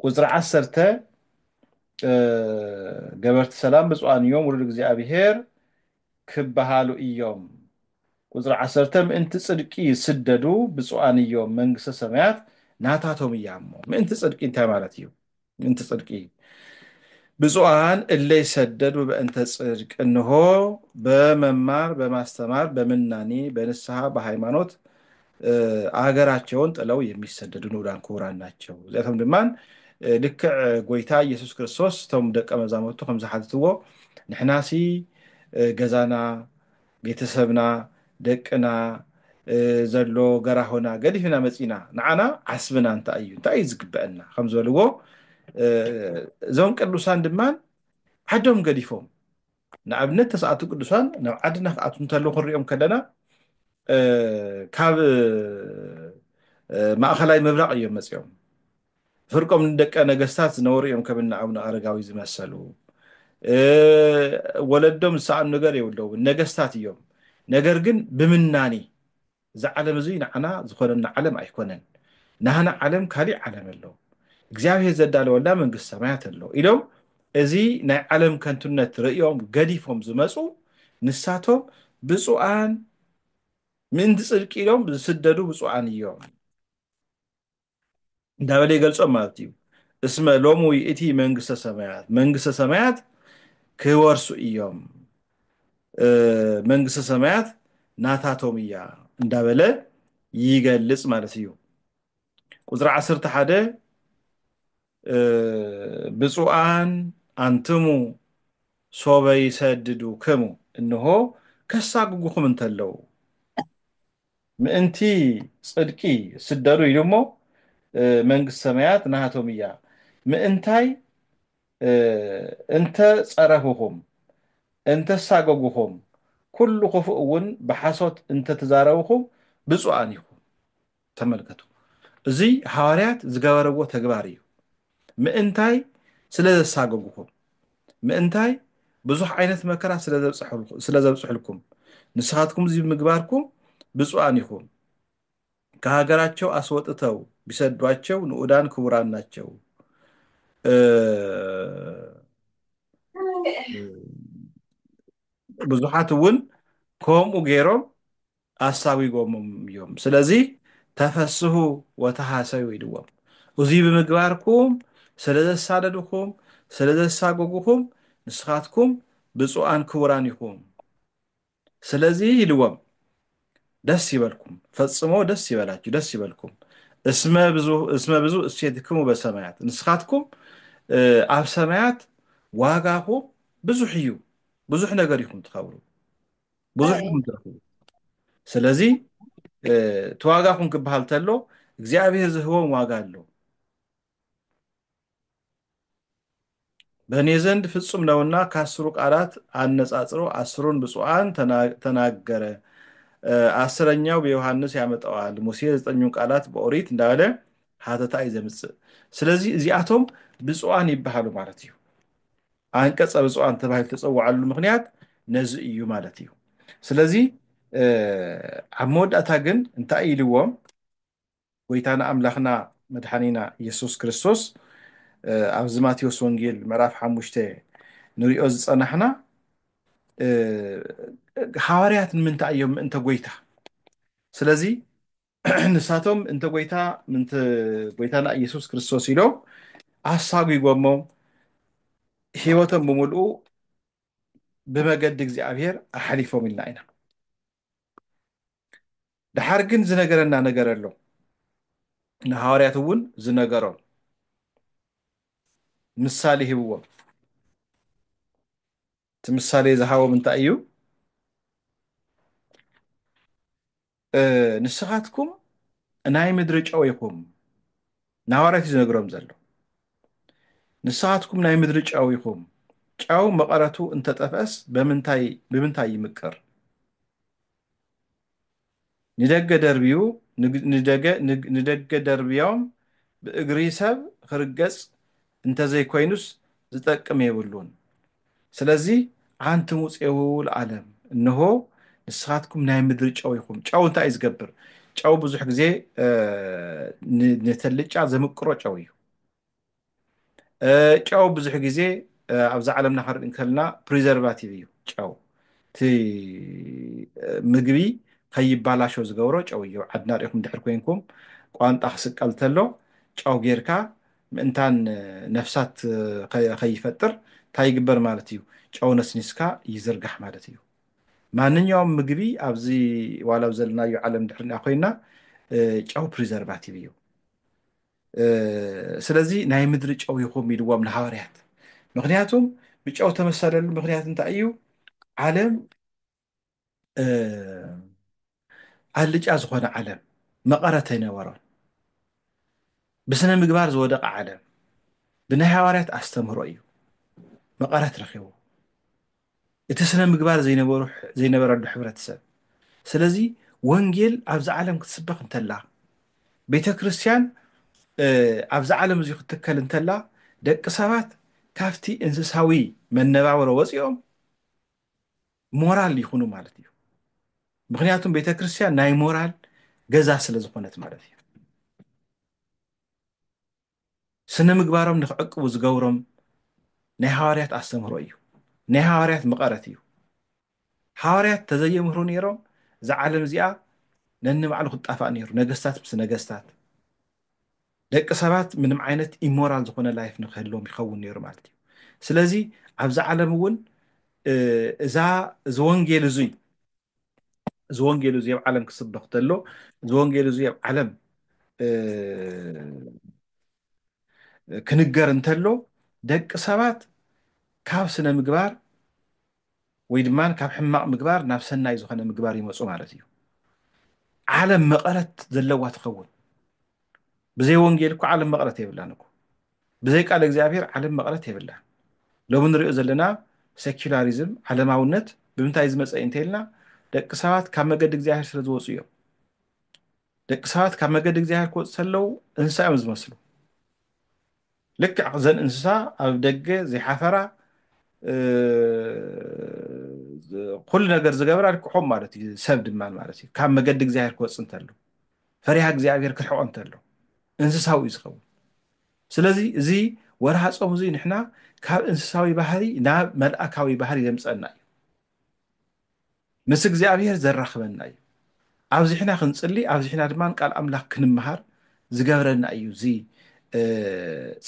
ቁጽሪ ዓሰርተ ገበርቲ ሰላም ብፁዓን እዮም ውሉድ እግዚኣብሔር ክበሃሉ እዮም። ቁጽሪ ዓሰርተ ምእንቲ ጽድቂ ይስደዱ ብፁዓን እዮም መንግስተ ሰማያት ናታቶም እያ እሞ ምእንቲ ጽድቂ እንታይ ማለት እዩ? ምእንቲ ጽድቂ ብፁዓን እለ ይሰደዱ በእንተ ጽድቅ እንሆ በመማር በማስተማር በምናኔ በንስሐ በሃይማኖት ኣገራቸውን ጥለው የሚሰደዱ ንኡዳን ክቡራን ናቸው እዚኣቶም ድማን ልክዕ ጎይታ ኢየሱስ ክርስቶስ እቶም ደቀ መዛሙርቱ ከም ዝሓትትዎ ንሕናሲ ገዛና ቤተሰብና ደቅና ዘሎ ገራሆና ገዲፍና መፂና ንዓና ዓስብና እንታይ እዩ እንታይ እዩ ዝግበአና ከም ዝበልዎ እዞም ቅዱሳን ድማን ዓዶም ገዲፎም ንኣብነት ተስኣቱ ቅዱሳን ናብ ዓድና ክኣትዉ እንተለዉ ክንሪኦም ከለና ካብ ማእኸላይ ምብራቕ እዮም መፂኦም ፍርቆም ንደቀ ነገስታት ዝነበሩ እዮም ከምና ኣቡነ ኣረጋዊ ዝመሰሉ ወለዶም ዝሰኣኑ ነገር የብለውን ነገስታት እዮም ነገር ግን ብምናኒ እዚ ዓለም እዙይ ንዓና ዝኾነና ዓለም ኣይኮነን ናህና ዓለም ካሊእ ዓለም ኣሎ እግዚኣብሔር ዘዳለወላ መንግስት ሰማያት ኣሎ ኢሎም እዚ ናይ ዓለም ከንቱነት ርእዮም ገዲፎም ዝመፁ ንሳቶም ብፁዓን ምእንቲ ፅድቂ ኢሎም ዝስደዱ ብፁዓን እዮም። እንዳበለ ይገልጾም ማለት እዩ እስመ ሎሙ ይእቲ መንግስተ ሰማያት መንግስተ ሰማያት ክወርሱ እዮም መንግስተ ሰማያት ናታቶም እያ እንዳበለ ይገልጽ ማለት እዩ ቁፅሪ 11 ብፁዓን ኣንትሙ ሶበ ይሰድዱ ክሙ እንሆ ከሳጉጉኹም እንተለው ምእንቲ ጽድቂ ስደዱ ኢሉ እሞ መንግስቲ ሰማያት ናሃቶም እያ ምእንታይ እንተ ጸረፉኹም እንተ ሳጎጉኹም ኩሉ ክፉእ እውን ብሓሶት እንተ ትዛረቡኹም ብጹኣን ኢኹም ተመልከቱ እዚ ሃዋርያት ዝገበረዎ ተግባር እዩ ምእንታይ ስለ ዘሳገጉኹም፣ ምእንታይ ብዙሕ ዓይነት መከራ ስለ ዘብጽሑልኩም፣ ንስኻትኩም እዚ ብምግባርኩም ብጹኣን ኢኹም። ከሃገራቸው ኣስወጥተው ቢሰዷቸው ንኡዳን ክቡራን ናቸው። ብዙሓት እውን ከምኡ ገይሮም ኣሳጒጎምም እዮም። ስለዚ ተፈስሁ ወተሃሰዩ ኢልዎም። እዙይ ብምግባርኩም ስለ ዘሳደድኹም፣ ስለ ዘሳጐጉኹም፣ ንስኻትኩም ብፁዓን ክቡራን ኢኹም። ስለዚ ኢልዎም ደስ ይበልኩም፣ ፈጽሞ ደስ ይበላችሁ፣ ደስ ይበልኩም፣ እስመ ብዙ እሴትክሙ በሰማያት፣ ንስኻትኩም ኣብ ሰማያት ዋጋኹም ብዙሕ እዩ፣ ብዙሕ ነገር ኢኹም ትኸብሩ። ብዙሕ እዮም ዝረኽቡ ስለዚ እቲ ዋጋኹም ክበሃል ተሎ እግዚኣብሔር ዝህቦም ዋጋ ኣሎ በእኔ ዘንድ ፍጹም ነውና ከአስሩ ቃላት አነጻጽሮ አስሩን ብፁዓን ተናገረ አስረኛው ብዮሐንስ ያመጣዋል ሙሴ ዘጠኙን ቃላት በኦሪት እንዳበለ ሀተታ እዩ ዘምጽእ ስለዚ እዚኣቶም ብፁዓን ይበሃሉ ማለት እዩ ኣንቀጸ ብፁዓን ተባሂሉ ዝተጸውዓሉ ምኽንያት ነዚ እዩ ማለት እዩ። ስለዚ ኣብ መወዳእታ ግን እንታይ ኢልዎም ጎይታና ኣምላኽና መድሓኒና ኢየሱስ ክርስቶስ ኣብዚ ማቴዎስ ወንጌል ምዕራፍ ሓሙሽተ ንሪኦ ዝጸናሕና ሃዋርያት ንምንታይ እዮም ምእንተ ጎይታ ስለዚ ንሳቶም እንተ ጎይታ ምንተ ጎይታና ኢየሱስ ክርስቶስ ኢሎም ኣሳጒጎሞ ሕይወቶም ብምልኡ ብመገዲ እግዚኣብሔር ኣሓሊፎም ኢልና ኢና ድሓር ግን ዝነገረና ነገር ኣሎ ንሃዋርያት እውን ዝነገሮም ምሳሌ ሂብዎም እቲ ምሳሌ ዝሃቦም እንታይ እዩ ንስኻትኩም ናይ ምድሪ ጨው ኢኹም ናዋርያት እዩ ዝነግሮም ዘሎ ንስኻትኩም ናይ ምድሪ ጨው ኢኹም ጨው መቐረቱ እንተጠፍአስ በምንታይ ብምንታይ ይምቅር ንደገ ደርብዩ ንደገ ንደገ ደርብዮም ብእግሪ ሰብ ክርገጽ እንተዘይኮይኑስ ዝጠቅም የብሉን። ስለዚ ኣንቱም ውፄው ለዓለም እንሆ ንስኻትኩም ናይ ምድሪ ጨው ኢኹም። ጨው እንታይ እዩ ዝገብር? ጨው ብዙሕ ግዜ ንተልጫ ዘምቅሮ ጨው እዩ። ጨው ብዙሕ ግዜ ኣብዛ ዓለምና ክንርኢ እንከልና ፕሪዘርቫቲቭ እዩ ጨው እቲ ምግቢ ከይባላሾ ዝገብሮ ጨው እዩ ዓድና ሪኢኹም ድሕር ኮይንኩም ቋንጣ ክስቀል ተሎ ጨው ጌርካ ምእንታን ነፍሳት ከይፈጥር እንታይ ይግበር ማለት እዩ? ጨው ነስኒስካ ይዝርጋሕ ማለት እዩ። ማንኛውም ምግቢ ኣብዚ ዋላ ኣብ ዘለናዮ ዓለም ድሕሪ ንኣ ኮይና ጨው ፕሪዘርቫቲቭ እዩ። ስለዚ ናይ ምድሪ ጨው ይኹም ኢልዎም ንሃዋርያት ምክንያቱም ብጨው ተመሰለሉ ምክንያት እንታይ እዩ ዓለም ኣልጫ ዝኾነ ዓለም መቐረት ኣይነበሮን። ብስነ ምግባር ዝወደቐ ዓለም ብናይ ሃዋርያት ኣስተምህሮ እዩ መቐረት ረኺቡ እቲ ስነ ምግባር ዘይነበረሉ ሕብረተሰብ። ስለዚ ወንጌል ኣብዚ ዓለም ክትስበኽ እንተላ ቤተ ክርስቲያን ኣብዚ ዓለም እዚ ክትከል እንተላ ደቂ ሰባት ካብቲ እንስሳዊ መነባብሮ ወፂኦም ሞራል ይኹኑ ማለት እዩ ምክንያቱም ቤተክርስትያን ናይ ሞራል ገዛ ስለ ዝኾነት ማለት እዩ ስነ ምግባሮም ንክዕቅቡ ዝገብሮም ናይ ሃዋርያት ኣስተምህሮ እዩ ናይ ሃዋርያት መቐረት እዩ ሃዋርያት ተዘየምህሩ ነይሮም እዛ ዓለም እዚኣ ነንባዕሉ ክጣፋእ ነይሩ ነገስታት ምስ ነገስታት ደቂ ሰባት ምንም ዓይነት ኢሞራል ዝኾነ ላይፍ ንክህልዎም ይኸውን ነይሩ ማለት እዩ ስለዚ ኣብዚ ዓለም እውን እዛ እዚ ወንጌል እዙይ እዚ ወንጌል እዙይ ኣብ ዓለም ክስበኽ ተሎ እዚ ወንጌል እዙይ ኣብ ዓለም ክንገር እንተሎ ደቂ ሰባት ካብ ስነ ምግባር ወይ ድማ ካብ ሕማቕ ምግባር ናብ ሰናይ ዝኾነ ምግባር ይመፁ ማለት እዩ ዓለም መቐረት ዘለዋ ትኸውን ብዘይ ወንጌል እኮ ዓለም መቐረት የብላን እኮ ብዘይ ቃል እግዚኣብሔር ዓለም መቐረት የብላን ሎሚ ንሪኦ ዘለና ሴኪላሪዝም ዓለማውነት ብምንታይ ዝመፀ እዩ እንተይልና ደቂ ሰባት ካብ መገዲ እግዚኣብሔር ስለ ዝወፁ እዮም ደቂ ሰባት ካብ መገዲ እግዚኣብሔር ክወፁ ተለው እንስሳ እዮም ዝመስሉ ልክዕ እዘን እንስሳ ኣብ ደገ ዘይሓፈራ ኩሉ ነገር ዝገብራ ልክዖም ማለት እዩ ሰብ ድማ ማለት እዩ ካብ መገዲ እግዚኣብሔር ክወፅ እንተሎ ፈሪሃ እግዚኣብሔር ክርሕቆ እንተሎ እንስሳዊ እዩ ዝኸውን ስለዚ እዚ ወርሃ ፆም እዚ ንሕና ካብ እንስሳዊ ባህሪ ናብ መልኣካዊ ባህሪ ዘምፀና እዩ ምስ እግዚኣብሔር ዘራኽበና እዩ ኣብዚሕና ክንፅሊ ኣብዚሕና ድማ ቃል ኣምላኽ ክንምሃር ዝገብረና እዩ እዚ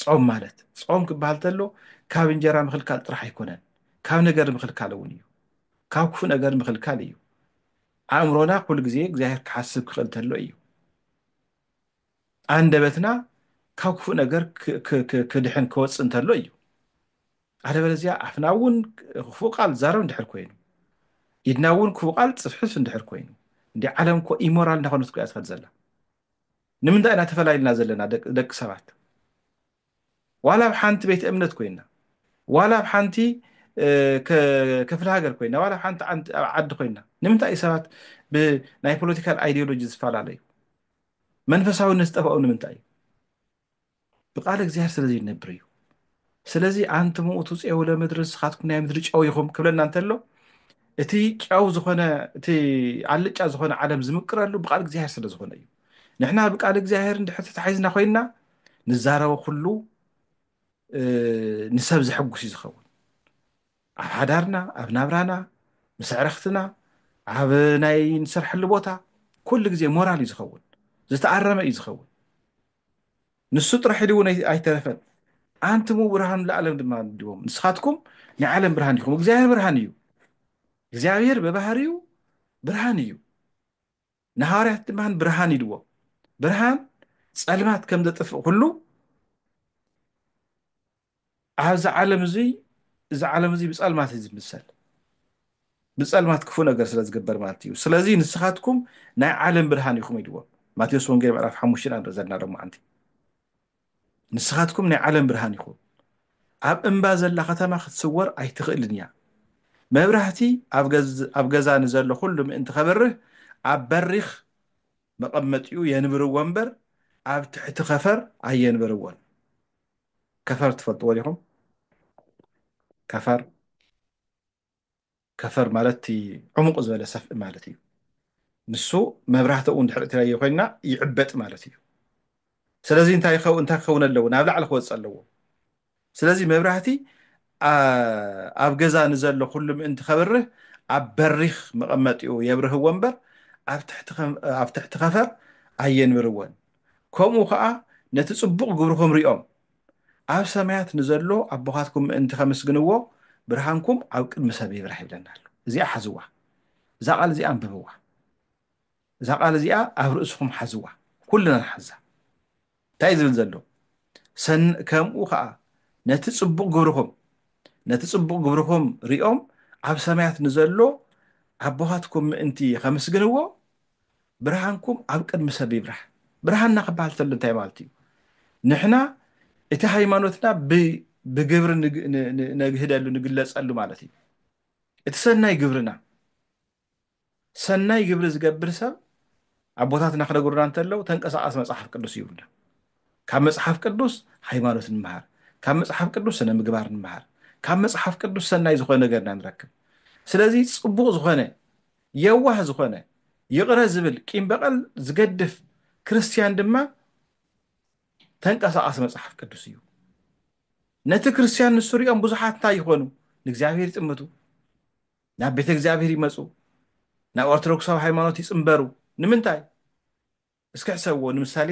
ፆም ማለት ፆም ክበሃል ተሎ ካብ እንጀራ ምክልካል ጥራሕ ኣይኮነን ካብ ነገር ምክልካል እውን እዩ ካብ ክፉእ ነገር ምክልካል እዩ ኣእምሮና ኩሉ ግዜ እግዚኣብሔር ክሓስብ ክኽእል ተሎ እዩ ኣንደበትና ካብ ክፉእ ነገር ክድሕን ክወፅእ እንተሎ እዩ ኣለበለዚያ ኣፍና እውን ክፉእ ቃል ዛረብ እንድሕር ኮይኑ ኢድና እውን ክፉእ ቃል ፅፍሕፍ እንድሕር ኮይኑ እንዲ ዓለም እኮ ኢሞራል እናኾነት እያ ትኸድ ዘላ ንምንታይ ኢና ተፈላይልና ዘለና ደቂ ሰባት ዋላ ኣብ ሓንቲ ቤት እምነት ኮይና ዋላ ኣብ ሓንቲ ክፍለ ሃገር ኮይና ዋላ ኣብ ሓንቲ ዓዲ ኮይና ንምንታይ እዩ ሰባት ብናይ ፖለቲካል ኣይዲዮሎጂ ዝፈላለዩ መንፈሳዊነት ዝጠፋኡ ንምንታይ እዩ ብቃል እግዚኣብሔር ስለዚ ይነብር እዩ ስለዚ ኣንቲ ምኡቱ ፄው ለምድሪ ንስኻትኩም ናይ ምድሪ ጨው ይኹም ክብለና እንተሎ እቲ ጨው ዝኾነ እቲ ኣልጫ ዝኾነ ዓለም ዝምቅረሉ ብቃል እግዚኣብሔር ስለ ዝኾነ እዩ ንሕና ብቃል እግዚኣብሔር እንድሕር ተታሒዝና ኮይንና ንዛረበ ኩሉ ንሰብ ዘሐጉስ እዩ ዝኸውን ኣብ ሓዳርና ኣብ ናብራና ምስ ኣዕርኽትና ኣብ ናይ ንሰርሐሉ ቦታ ኩሉ ግዜ ሞራል እዩ ዝኸውን ዝተኣረመ እዩ ዝኸውን ንሱ ጥራሕ ኢሉ እውን ኣይተረፈን ኣንትሙ ብርሃን ለዓለም ድማ ድዎም ንስኻትኩም ናይ ዓለም ብርሃን ኢኹም እግዚኣብሔር ብርሃን እዩ እግዚኣብሔር ብባህሪኡ ብርሃን እዩ ንሃዋርያት ድማ ብርሃን ኢልዎም። ብርሃን ጸልማት ከም ዘጥፍእ ኩሉ ኣብዚ ዓለም እዙይ እዚ ዓለም እዙይ ብጸልማት እዩ ዝምሰል ብጸልማት ክፉእ ነገር ስለ ዝግበር ማለት እዩ ስለዚ ንስኻትኩም ናይ ዓለም ብርሃን ኢኹም ኢልዎም ማቴዎስ ወንጌል ምዕራፍ ሓሙሽተ ኢና ዘለና ሎማዓንቲ ንስኻትኩም ናይ ዓለም ብርሃን ኢኹም። ኣብ እምባ ዘላ ከተማ ክትስወር ኣይትኽእልን እያ። መብራህቲ ኣብ ገዛ ንዘሎ ኩሉ ምእንቲ ከብርህ ኣብ በሪኽ መቐመጢኡ የንብርዎ እምበር ኣብ ትሕቲ ከፈር ኣየንበርዎን። ከፈር ትፈልጥዎ ዲኹም? ከፈር ከፈር ማለት እቲ ዕሙቕ ዝበለ ሰፍኢ ማለት እዩ። ንሱ መብራህቲ እውን ድሕሪ እትለየ ኮይና ይዕበጥ ማለት እዩ። ስለዚ እንታይ ይኸው እንታይ ክኸውን ኣለዎ ናብ ላዕሊ ክወፅእ ኣለዎ። ስለዚ መብራህቲ ኣብ ገዛ ንዘሎ ኩሉ ምእንቲ ከብርህ ኣብ በሪኽ መቐመጢኡ የብርህዎ እምበር ኣብ ትሕቲ ከፈር ኣየንብርዎን። ከምኡ ከዓ ነቲ ፅቡቕ ግብርኹም ሪኦም ኣብ ሰማያት ንዘሎ ኣቦኻትኩም ምእንቲ ከምስግንዎ ብርሃንኩም ኣብ ቅድሚ ሰብ ይብራህ ይብለና ኣሎ እዚኣ ሓዝዋ እዛ ቃል እዚኣ ኣንብብዋ እዛ ቃል እዚኣ ኣብ ርእስኹም ሓዝዋ ኩልና ንሓዛ እንታይ ዝብል ዘሎ ከምኡ ከዓ ነቲ ፅቡቕ ግብርኹም ነቲ ፅቡቕ ግብርኹም ሪኦም ኣብ ሰማያት ንዘሎ ኣቦኻትኩም ምእንቲ ከምስግንዎ ብርሃንኩም ኣብ ቅድሚ ሰብ ይብራህ ብርሃንና ክበሃል ተሎ እንታይ ማለት እዩ ንሕና እቲ ሃይማኖትና ብግብሪ ነግህደሉ ንግለፀሉ ማለት እዩ እቲ ሰናይ ግብርና ሰናይ ግብሪ ዝገብር ሰብ ኣቦታትና ክነግሩና እንተለው ተንቀሳቀስ መፅሓፍ ቅዱስ ይብሉና ካብ መፅሓፍ ቅዱስ ሃይማኖት ንምሃር ካብ መፅሓፍ ቅዱስ ስነ ምግባር ንምሃር ካብ መፅሓፍ ቅዱስ ሰናይ ዝኾነ ነገርና ንረክብ ስለዚ ፅቡቅ ዝኾነ የዋህ ዝኾነ፣ ይቕረ ዝብል፣ ቂም በቐል ዝገድፍ ክርስትያን ድማ ተንቀሳቓሲ መጽሓፍ ቅዱስ እዩ። ነቲ ክርስትያን ንሱ ሪኦም ብዙሓት እንታይ ይኾኑ? ንእግዚኣብሔር ይጥምቱ፣ ናብ ቤተ እግዚኣብሔር ይመጹ፣ ናብ ኦርቶዶክሳዊ ሃይማኖት ይጽምበሩ። ንምንታይ? እስኪ ሕሰብዎ ንምሳሌ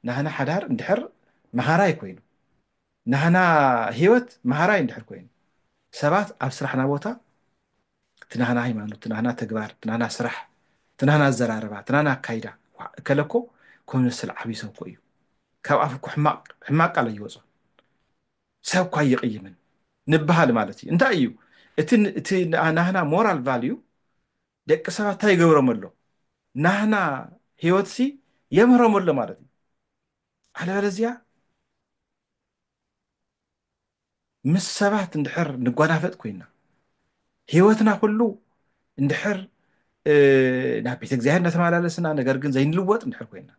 ናህና ሓዳር እንድሕር መሃራይ ኮይኑ ናህና ህይወት መሃራይ እንድሕር ኮይኑ ሰባት ኣብ ስራሕና ቦታ ትናህና ሃይማኖት ትናህና ተግባር ትናህና ስራሕ ትናህና ኣዘራርባ ትናህና ኣካይዳ እከለኮ ኮመስል ዓብይ ሰብ ኮ እዩ ካብ ኣፍ እኮ ሕማቅ ቃል ኣይወፅን ሰብ እኳ ይቕይምን ንበሃል ማለት እዩ እንታይ እዩ እቲ ናህና ሞራል ቫልዩ ደቂ ሰባት ታይ ይገብሮም ኣሎ ናህና ሂወትሲ የምህሮም ኣሎ ማለት እዩ ኣለበለዚያ ምስ ሰባት እንድሕር ንጓናፈጥ ኮይና ህይወትና ኩሉ እንድሕር ናብ ቤተ እግዚኣብሔር እናተመላለስና ነገር ግን ዘይንልወጥ እንድሕር ኮይና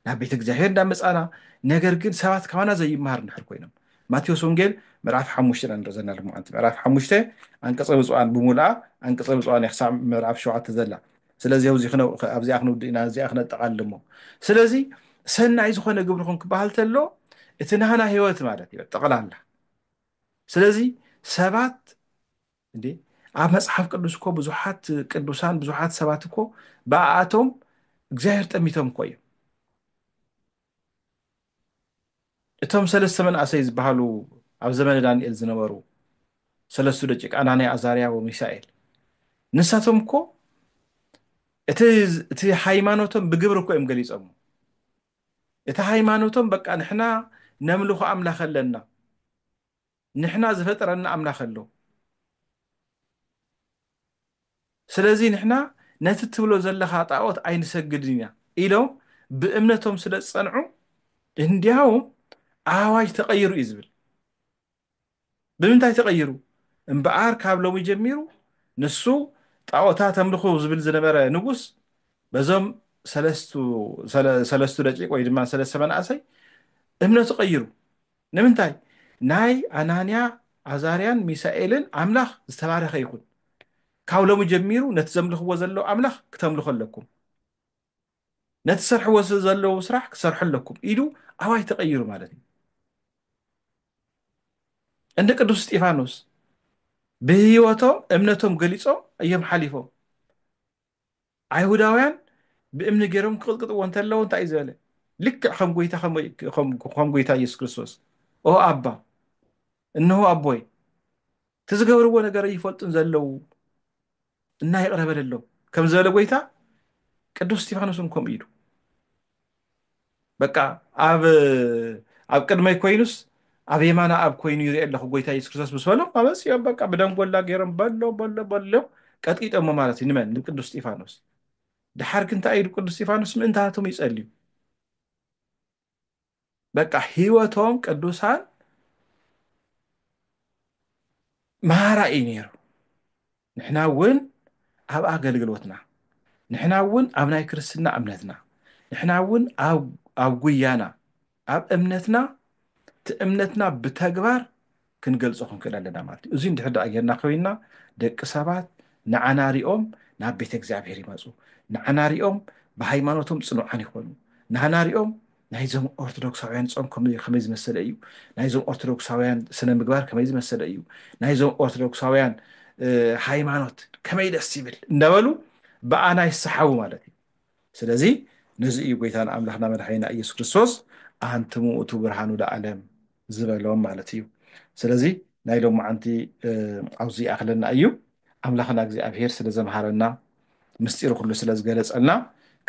ናብ ቤተ እግዚኣብሔር እንዳመጻና ነገር ግን ሰባት ካባና ዘይመሃር እንድሕር ኮይኖም ማቴዎስ ወንጌል ምዕራፍ ሓሙሽተ ኢና ንርኢ ዘለና ልሙዓንቲ ምዕራፍ ሓሙሽተ ኣንቀጸ ብፁዓን ብምሉኣ ኣንቀጸ ብፁዓን ክሳብ ምዕራፍ ሸውዓተ ዘላ ስለዚ ኣብዚ ኣብዚኣ ክንውድእ ኢና እዚኣ ክነጠቓልል እሞ ስለዚ ሰናይ ዝኾነ ግብርኹም ክበሃል ተሎ እቲ ናህና ህይወት ማለት እዩ ጠቕላላ ስለዚ ሰባት እንዴ ኣብ መጽሓፍ ቅዱስ እኮ ብዙሓት ቅዱሳን ብዙሓት ሰባት እኮ ብኣኣቶም እግዚኣብሔር ጠሚቶም እኮ እዮም እቶም ሰለስተ መንእሰይ ዝበሃሉ ኣብ ዘመነ ዳንኤል ዝነበሩ ሰለስቱ ደቂቅ ኣናንያ ኣዛርያ ወሚሳኤል ንሳቶም እኮ እቲ ሃይማኖቶም ብግብሪ እኮ እዮም ገሊፆም እቲ ሃይማኖቶም በቃ ንሕና ነምልኾ ኣምላኽ ኣለና ንሕና ዝፈጠረና ኣምላኽ ኣሎ ስለዚ ንሕና ነቲ ትብሎ ዘለኻ ጣኦት ኣይንሰግድን ኢና ኢሎም ብእምነቶም ስለ ዝጸንዑ እንዲያውም ኣዋጅ ተቐይሩ እዩ ዝብል ብምንታይ ተቐይሩ እምበኣር ካብ ሎሚ ጀሚሩ ንሱ ጣኦታት ኣምልኹ ዝብል ዝነበረ ንጉስ በዞም ሰለስቱ ደቂቅ ወይ ድማ ሰለስተ መናእሰይ እምነቱ ቀይሩ ንምንታይ ናይ ኣናንያ ኣዛርያን ሚሳኤልን ኣምላኽ ዝተባረኸ ይኹን ካብ ሎሚ ጀሚሩ ነቲ ዘምልኽዎ ዘለዉ ኣምላኽ ክተምልኹ ኣለኩም ነቲ ሰርሕዎ ዘለዉ ስራሕ ክሰርሑ ኣለኩም ኢሉ ኣዋጅ ተቐይሩ ማለት እዩ እንደ ቅዱስ እስጢፋኖስ ብህይወቶም እምነቶም ገሊጾም እዮም ሓሊፎም ኣይሁዳውያን ብእምኒ ገይሮም ክቕጥቅጥዎ እንተለዉ እንታይ እዩ ዝበለ? ልክዕ ከም ጎይታ ከም ጎይታ ኢየሱስ ክርስቶስ ኦ ኣባ እንሆ ኣቦይ እቲ ዝገብርዎ ነገር ኣይፈልጡን ዘለዉ እና ይቕረ በለሎም ከም ዝበለ ጎይታ ቅዱስ እስጢፋኖስ እውን ከምኡ ኢሉ በቃ ኣብ ኣብ ቅድመይ ኮይኑስ ኣብ የማና ኣብ ኮይኑ ይርኤ ኣለኹ ጎይታ ኢየሱስ ክርስቶስ ምስ በሎም ኣመፅኦም በቃ ብደንጎላ ገይሮም በሎ በሎ በሎ ቀጥቂጦሞ ማለት እዩ ንመን ንቅዱስ እስጢፋኖስ ድሓር ግን እንታይ ኢሉ ቅዱስ እስጢፋኖስ ምእንታቶም ይፀልዩ በቃ ህይወቶም ቅዱሳን መሃራ እዩ ነይሩ ንሕና እውን ኣብ ኣገልግሎትና፣ ንሕና እውን ኣብ ናይ ክርስትና እምነትና፣ ንሕና እውን ኣብ ጉያና፣ ኣብ እምነትና፣ እቲ እምነትና ብተግባር ክንገልጾ ክንክእል ኣለና ማለት እዩ። እዙይ እንድሕር ደኣ ጌርና ኮይንና ደቂ ሰባት ንዓና ሪኦም ናብ ቤተ እግዚኣብሔር ይመጹ፣ ንዓና ሪኦም ብሃይማኖቶም ጽኑዓን ይኾኑ፣ ንዓና ሪኦም ናይዞም ኦርቶዶክሳውያን ጾም ከመይ ዝመሰለ እዩ? ናይዞም ኦርቶዶክሳውያን ስነ ምግባር ከመይ ዝመሰለ እዩ? ናይዞም ኦርቶዶክሳውያን ሃይማኖት ከመይ ደስ ይብል እንዳበሉ ብኣና ይሰሓቡ ማለት እዩ። ስለዚ ነዚ እዩ ጎይታን ኣምላኽና መድሓኒና ኢየሱስ ክርስቶስ ኣንትሙ ውእቱ ብርሃኑ ለዓለም ዝበሎም ማለት እዩ ስለዚ ናይ ሎም መዓንቲ ኣብዚ ይኣክለና እዩ ኣምላክና እግዚኣብሄር ስለ ዘምሃረና ምስጢሩ ኩሉ ስለ ዝገለፀልና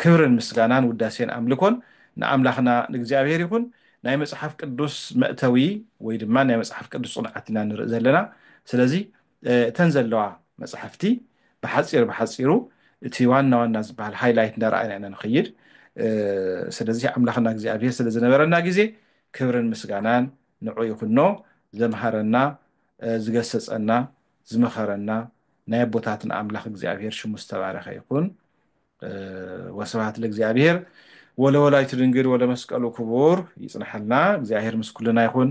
ክብርን ምስጋናን ውዳሴን ኣምልኮን ንኣምላክና ንእግዚኣብሄር ይኹን ናይ መፅሓፍ ቅዱስ መእተዊ ወይ ድማ ናይ መፅሓፍ ቅዱስ ፅንዓት ኢና ንርኢ ዘለና ስለዚ እተን ዘለዋ መፅሓፍቲ ብሓፂር ብሓፂሩ እቲ ዋና ዋና ዝበሃል ሃይላይት እንዳረኣይና ኢና ንኸይድ ስለዚ ኣምላኽና እግዚኣብሄር ስለ ዝነበረና ግዜ ክብርን ምስጋናን ንዑ ይኹኖ ዘምሃረና ዝገሰጸና ዝመኸረና ናይ ኣቦታትና ኣምላኽ እግዚኣብሔር ሽሙ ዝተባረኸ ይኹን ወስብሃት ለእግዚኣብሔር ወለወላይቱ ድንግል ወለመስቀሉ ክቡር ይጽናሓልና እግዚኣብሔር ምስ ኩልና ይኹን